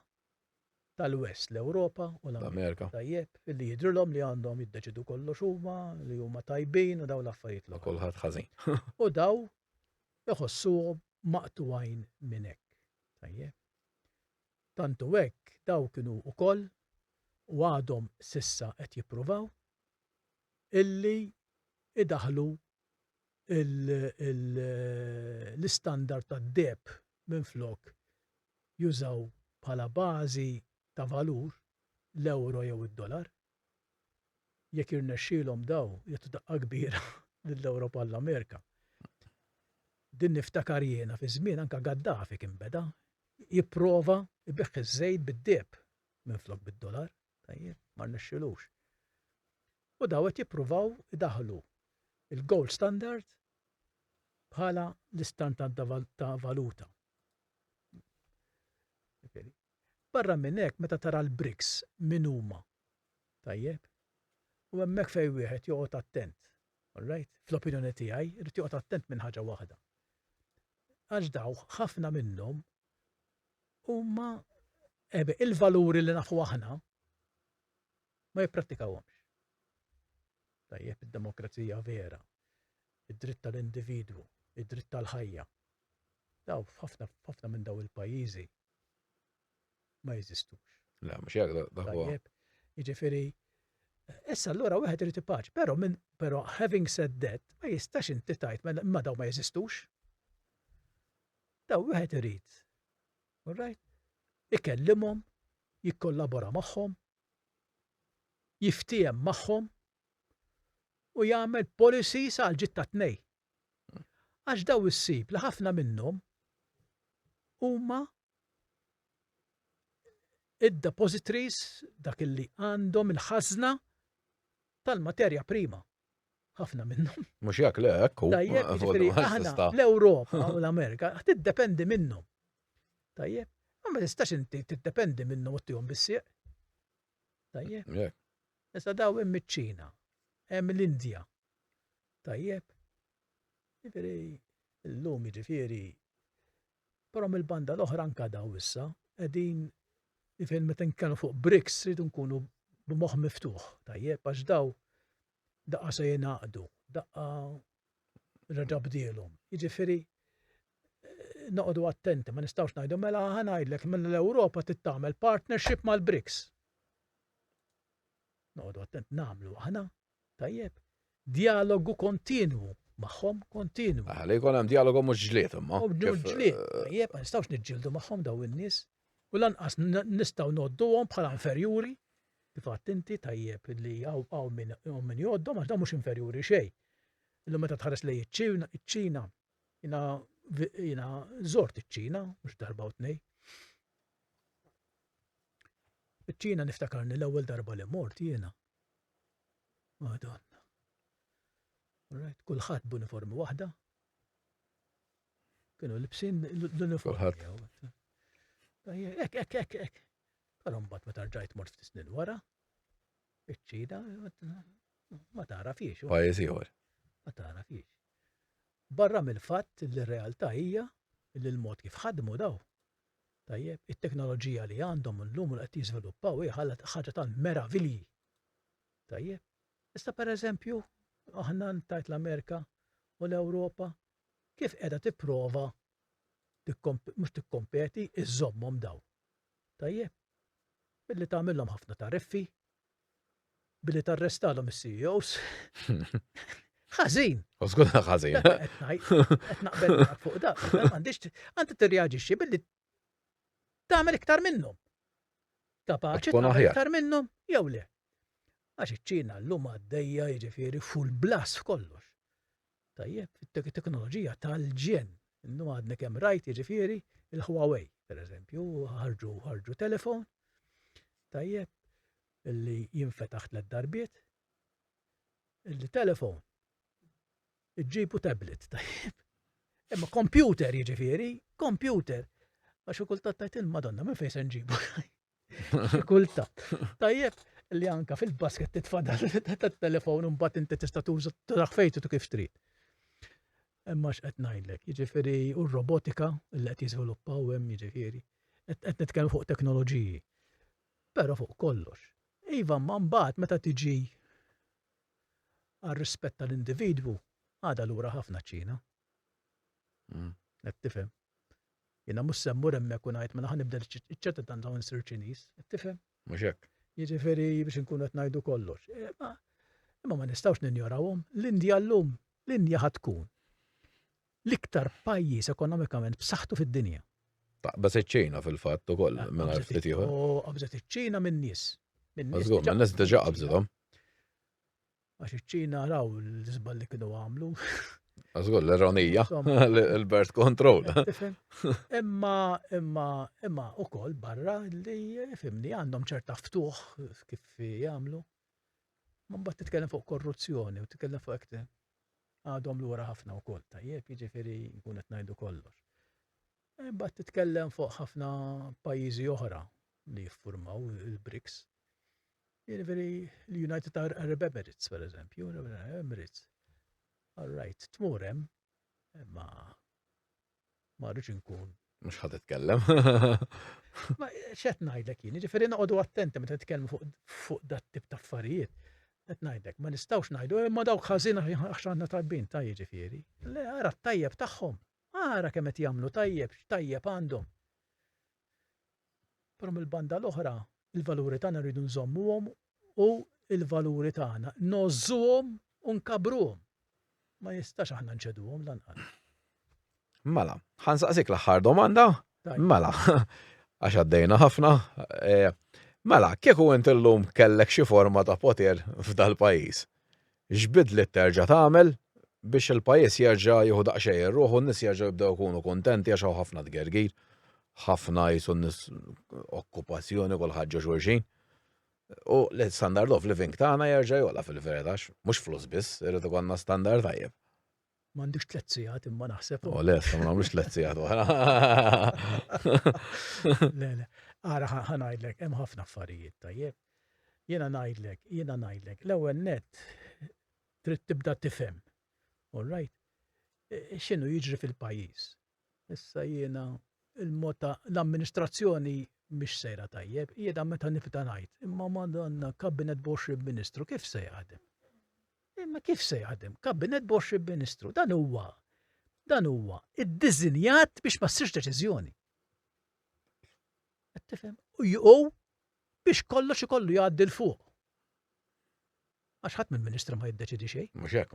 tal-West, l-Ewropa u l-Amerika, tajjeb, li jidrilhom li għandhom jiddeċidu kollox huma, li huma tajbin u daw l-affarijiet l Kulħadd ħażin. U daw iħossuhom maqtuwajn minn hekk. Tajjeb. Tant hu hekk, dawk kienu wkoll, u għadhom s'issa qed jippruvaw, illi jdaħħlu l-istandard tad-deheb minflok jużaw bħala bażi ta' valur l-ewro jew id-dolar. jekk jirnexxilhom daw jagħtu daqqa kbira lill-Ewropa u l-Amerika. Din niftakar jiena fi żmien anke Gaddafi kien beda jipprova jbigħ iż-żejt bid-deheb minflok bid-dolar, tajjeb, ma rnexxilux. U daw qed jippruvaw idaħlu il-gold standard bħala l-istandard ta' valuta. Barra minn hekk meta tara l-bricks min huma, tajjeb? U hemmhekk fejn wieħed joqgħod attent, all right? Fl-opinjoni tiegħi, irid joqgħod attent minn ħaġa waħda. Għax dawk ħafna minnhom huma ebe il-valuri li nafu aħna ma jipprattikawhomx. Tajjeb id-demokrazija vera, id-dritt tal-individwu, id-dritt tal-ħajja. Daw f'ħafna f'ħafna minn daw il-pajjiżi ma jeżistux. La, mhux hekk dak huwa. Tajjeb, jiġifieri Issa allura wieħed irid ipaċ, però minn però having said that ma jistax inti tajt mela, ma daw ma jeżistux. Daw wieħed irid. All right? Ikellimhom, jikkollabora magħhom, jiftiehem magħhom u jagħmel policies għal ġitta tnej. Għax dawn issib li ħafna minnhom huma id-depositories, dak li għandhom il-ħażna tal-materja prima. Ħafna minnhom. Mhux jekk le hekk hu. L-Ewropa u l-Amerika tiddependi minnhom. Tajjeb, ma tistax inti tiddependi minnhom u tihom bissieq. Tajjeb? Yeah. Issa daw hemm iċ-Ċina, hemm l-Indja. Tajjeb? Jiġifieri llum jiġifieri però mill-banda l-oħra anka daw issa qegħdin jiġifieri meta nkunu fuq BRICS rridu nkunu b'moħħ miftuħ, tajjeb għax daw daqqa se jingħaqdu, daqqa reġa' bdielhom. Jiġifieri noqogħdu attenti, ma nistgħux ngħidu mela ħa ngħidlek minn l-Ewropa tittamel partnership mal-BRICS. Noqogħdu attent nagħmlu aħna, tajjeb, dialogu kontinwu magħhom kontinwu. Aħna ah, jkun hemm dialogu mhux ġlied imma. Mhux ġlied, eh, tajjeb, ma nistgħux niġġieldu magħhom daw in-nies u lanqas nistgħu nodduhom bħala inferjuri Kif għidt inti tajjeb li hawn min hawn min jgħoddhom għax dawn mhux inferjuri xejn. Illum meta tħares lejn iċ-Ċina, iċ-Ċina, jiena jiena żort iċ-Ċina mhux darba u tnej. Iċ-Ċina niftakarni l-ewwel darba li mort jiena. Madonna. Right, kulħadd b'uniformi waħda. Kienu libsin l-uniformi. Kulħadd. Ek, ek, ek, ek. Però mbagħad meta rġajt mort ftit snin wara, iċ-Ċina ma tara fiex. Pajjiż ieħor. Ma tara fiex. Barra mill-fatt li r-realtà hija li l-mod kif ħadmu daw. Tajjeb, it-teknoloġija li għandhom l-lum li qed jiżviluppaw hija ħaġa ta' meravilji. Tajjeb. Issa pereżempju, aħna ntajt l-Amerika u l-Ewropa kif qiegħda tipprova mhux tikkompeti, iżżommhom dawn. Tajjeb? Billi tagħmilhom ħafna tariffi, billi tarrestalhom is-CEOs. Ħażin. U żgur ħażin. Qed naqbel fuq dak, m'għandix għandi tirreaġixxi billi tagħmel iktar minnhom. Kapaċi tagħmel iktar minnhom jew le. Għax iċ-Ċina llum għaddejja jiġifieri full blas f'kollox. Tajjeb, it-teknoloġija tal-ġenn. Innu għadna kemm rajt jiġifieri il-Huawei, per eżempju, ħarġu ħarġu telefon. Tajjeb, illi jinfetaħ tliet darbiet. Illi telefon. Iġġibu tablet, tajjeb. Imma kompjuter jiġifieri, kompjuter. Għax kultant tajt il-Madonna minn fejn se nġibu. Kultat. Tajjeb li anka fil-basket titfadal tat-telefon u mbagħad inti tista' tuża traħ fejtu kif trid. Imma x'qed ngħidlek, jiġifieri u r-robotika li qed jiżviluppaw hemm jiġifieri. Qed nitkellmu fuq teknoloġiji. Però fuq kollox. Iva, ma mbagħad meta tiġi għal rispett tal-individwu, għada lura ħafna ċina. Qed tifhem? Jiena mhux se mmur hemmhekk u ngħid mela ħa nibdel iċ-ċittadinanza u nsir Ċiniż. Qed tifhem? Mhux hekk. Jiġifieri biex inkunu qed ngħidu kollox. Eh, imma ma nistgħux ninjorawhom. L-Indja llum, l-Indja ħad tkun l-iktar pajjiż ekonomikament b'saħħtu fid-dinja. Taqbeż iċ-Ċina fil-fatt ukoll ah, minn ftit ieħor. Qabżet iċ-Ċina minn nies. Mażgur, minn nies diġà qabżithom. Għax iċ-Ċina raw l-iżbal li kienu għamlu. Għazgur, l-ironija, l-birth control. Imma, imma, imma, u koll barra li fimni għandhom ċerta ftuħ kif jgħamlu. Man bat titkellem fuq korruzzjoni u titkellem fuq ekte. Għadhom l-ura ħafna u koll, tajjeb, jġifiri jkun etnajdu kollox. Bat titkellem fuq ħafna pajizi oħra li jiffurmaw il-BRICS. Jiġifieri l-United Arab Emirates, per eżempju, Emirates. All right, tmur hemm, ma ma rridx inkun. Mhux ħadd itkellem. Ma x'qed ngħidlek jien, jiġifieri noqogħdu attenti meta nitkellmu fuq dat tip ta' affarijiet. Qed ngħidlek, ma nistgħux ngħidu imma eh, dawk ħażin għax għandna tajbin ta' jiġifieri. Le ara t-tajjeb tagħhom. Ara kemm qed jagħmlu tajjeb, x'tajjeb għandhom. Però mill-banda l-oħra, il-valuri tagħna rridu nżommuhom u l-valuri tagħna ngħożżuhom u nkabbruhom. Ma jistax aħna nċeduhom lanqas. Mela, ħansaqsik l-aħħar domanda? Mela, għax għaddejna ħafna. Eh, mela, kieku int illum kellek xi forma ta' poter f'dal-pajjiż? X'bidliet terġa' tagħmel biex il-pajjiż jerġa' jieħu daqsxejn ir-ruħ u n-nies jerġgħu jibdew ikunu kuntenti għax hawn ħafna tgergir, ħafna qisu n-nies okkupazzjoni kulħadd ġo xulxin. U l-standard of living tagħna jerġa' jogħla fil-verità għax mhux flus biss irid ikollna standard tajjeb. M'għandux tliet sigħat imma naħseb. U le, sa ma nagħmlux tliet sigħat oħra. Le, le. Ara ħa ngħidlek, hemm ħafna affarijiet tajjeb. Jiena ngħidlek, jiena ngħidlek, l-ewwel net trid tibda tifhem. All right? E, e, x'inhu jiġri fil-pajjiż? Issa jiena il-mod ta' l-amministrazzjoni mhix sejra tajjeb, jiena meta nifta ngħid, imma madonna kabinet b'20 ministru kif se jaħdem? Imma kif se jaħdem? Kabinet b'20 ministru, dan huwa dan huwa iddiżinjat biex ma ssirx deċiżjoni. Qed tifhem? U biex kollox ikollu jgħaddi l fuq. Għax ħadd mill-ministru ma jiddeċidi xejn. Mhux hekk.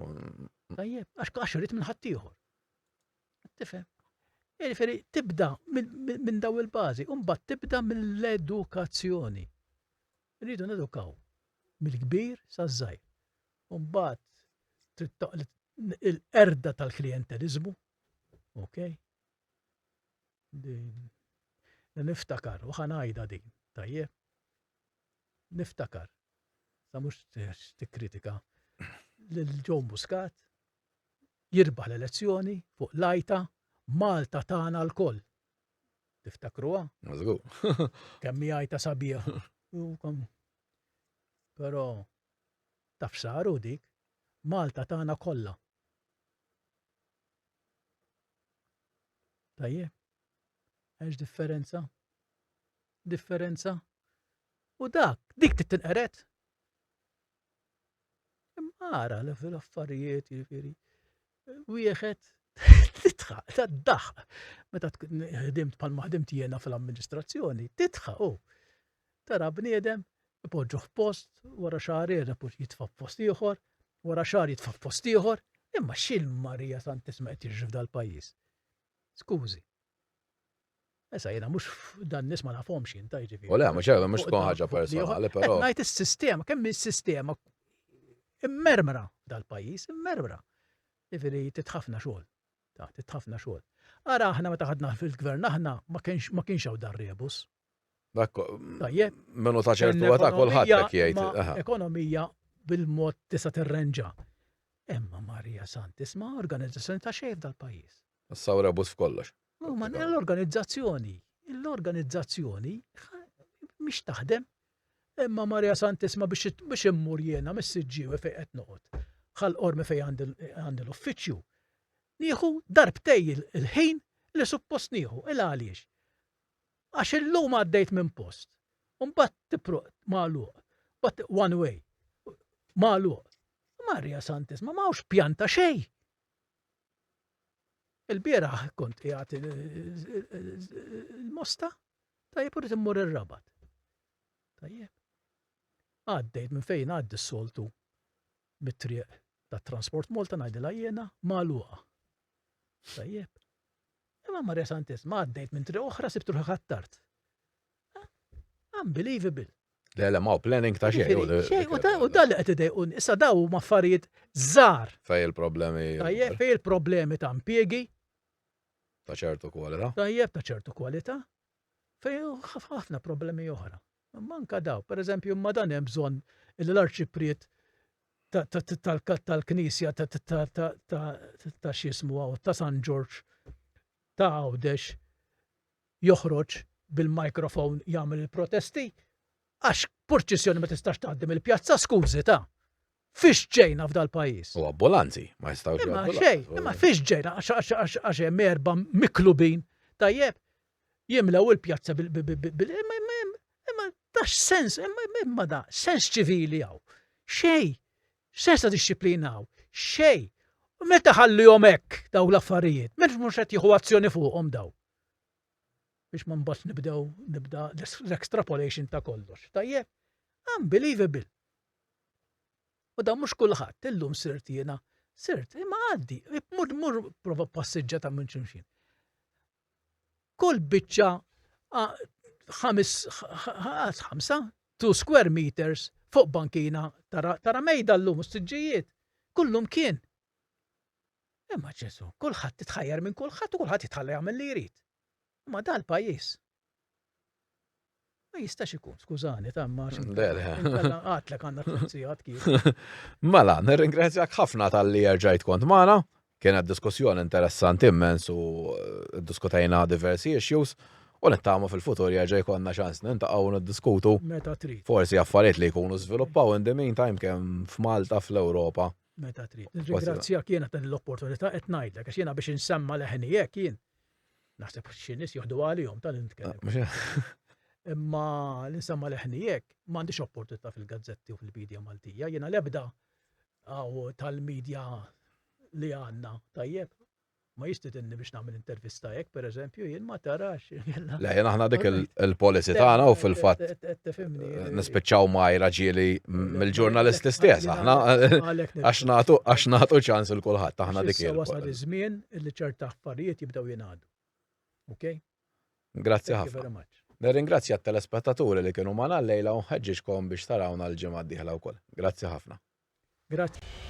Tajjeb, għax għax irid minn ħadd ieħor. Tifhem? Jiġifieri tibda minn daw il-bażi, u mbagħad tibda mill-edukazzjoni. Rridu nedukaw mill-kbir saż-żgħir. Mbagħad il-qerda tal-klijenteliżmu, ok? Niftakar, u ħanajda din, tajjeb? Niftakar, sa mhux tikkritika, lil Joe Muscat, jirbaħ l-elezzjoni fuq l-għajta Malta tagħna lkoll. Tiftakruha? Mażgur. Kemm hi għajta sabiħa. Però taf saru dik Malta tagħna kollha. Tajjeb. Għax differenza? Differenza? U dak, dik tittinqeret? Imma ara l-affarijiet, jiġifieri, wieħed titħaq, tad-daħq. Meta ħdimt bħal ma ħdimt jiena fl-amministrazzjoni, titħaq u tara bniedem ipoġġu f'post, wara xahar ieħor jitfa' f'post ieħor, wara xahar jitfa' f'post ieħor, imma x'il-Marija Santisma qed jiġri f'dal-pajjiż? Skużi. Issa jena mux dan nis ma nafhomx jien ta' jiġifieri. U le, mhux hekk, mhux tkun ħaġa personali, però. Ngħid is-sistema, kemm is-sistema immermra dal-pajjiż, immermra. Jiġifieri titħafna xogħol. Ta' titħafna xogħol. Ara aħna meta ħadna fil-gvern aħna ma kienx hawn dar rebus. Dak menu ta' ċertu għata kolħat dak jgħid. Ekonomija bil-mod tista' tirrenġa. Emma Marija Santisma organizzazzjoni ta' xejf dal-pajjiż. Sawra bus f'kollox. Ma l-organizzazzjoni, l-organizzazzjoni mhix taħdem. Emma Marija Santisma biex immur jiena mis-siġġiewi fejn qed noqgħod. Ħal qormi fejn għandi l-uffiċċju. Nieħu darbtej il-ħin li suppost nieħu. Il għaliex? Għax illum għaddejt minn post, u mbagħad tipruq magħluq, mbagħad one way, magħluq. Marja Santisma ma hawnx pjan ta' xejn. Il-bieraħ kont qiegħed il-mosta, tajjeb u immur ir-rabat. Tajjeb. Għaddejt minn fejn għaddi s-soltu mit-triq tat-transport Malta ngħidilha jiena magħluqa. Tajjeb. Imma Marja Santissma għaddejt minn triq oħra sibt ruħi ħattart. Unbelievable. Le, le, ma' planning ta' xejn. U da li qed idejqun, issa daw huma affarijiet żgħar. Fej il-problemi. Tajjeb, fej il-problemi ta' impjiegi. Ta' ċertu kwalità. Tajjeb, ta' ċertu kwalità. Fej ħafna problemi oħra. Imma anke dawk, pereżempju, imma dan hemm bżonn li l-arċipriet tal-Knisja ta' x'jismu hawn ta' San Ġorġ ta' Għawdex joħroġ bil-microphone jagħmel il-protesti għax purċissjoni ma tistax tgħaddi mill-pjazza, skużi ta'! Fiex ġejna f'dal-pajjiż? U abbulanzi ma jistgħux jgħaddu. Imma xejn, imma fiex ġejna għax hemm erba' miklubin, tajjeb? jimlew il-pjazza bil imma imma imma da sens imma imma da sens ċivili għaw. Xej, sens ta' disċiplina għaw. Xej. U meta ħallihom hekk daw l-affarijiet, meta mhux qed jieħu azzjoni fuqhom daw. Biex ma mbagħad nibdew nibda l-extrapolation ta' kollox. Tajjeb? Unbelievable. U da mhux kulħadd illum sirt jiena sirt imma għaddi, mur mur prova passiġġa ta' minn ximxin. kull biċċa ħamsa two square meters fuq bankina tara tara mejda llum s-siġġijiet. Kullum kien. Imma ġesu, kulħadd titħajjar minn kulħadd u kulħadd jitħalla jagħmel li jrid. Imma dal-pajjiż Ma jistax ikun, skużani, tamma. Le, le. Għatlek għanna t-tfsijat kif. Mela, nirringrazzjak ħafna tal-li erġajt kont maħna. Kienet diskussjoni interessanti immens u eh, diskutajna diversi issues. U nittama fil-futur jerġa' jkollna ċans nintaqgħu niddiskutu. Meta trid. Forsi affarijiet li jkunu żviluppaw in the meantime kemm f'Malta fl-Ewropa. Meta trid. Nirringrazzjak jiena ta' l-opportunità qed ngħidlek għax jiena biex insemma leħni hekk jien Naħseb xi nies joħdu għalihom tal nitkellem. Imma l-insemma leħnijek ma għandix opportunità fil-gazzetti u fil-medja Maltija, jiena lebda għaw tal-medja li għanna tajjeb. Ma jistidinni biex nagħmel intervista hekk, per eżempju, jien ma tarax. Le, jien aħna dik il-policy tagħna u fil-fatt nispiċċaw ma raġieli mill-ġurnalisti stess. Aħna għax nagħtu ċans il kulħadd aħna dik il żmien illi ċerta affarijiet jibdew jingħadu. Ok? Grazzi ħafna. Nirringrazzja t-telespettaturi li kienu ma' lejla u nħeġġiġkom biex tarawna l-ġimgħa d-dieħla wkoll. Grazzi ħafna. Grazzi.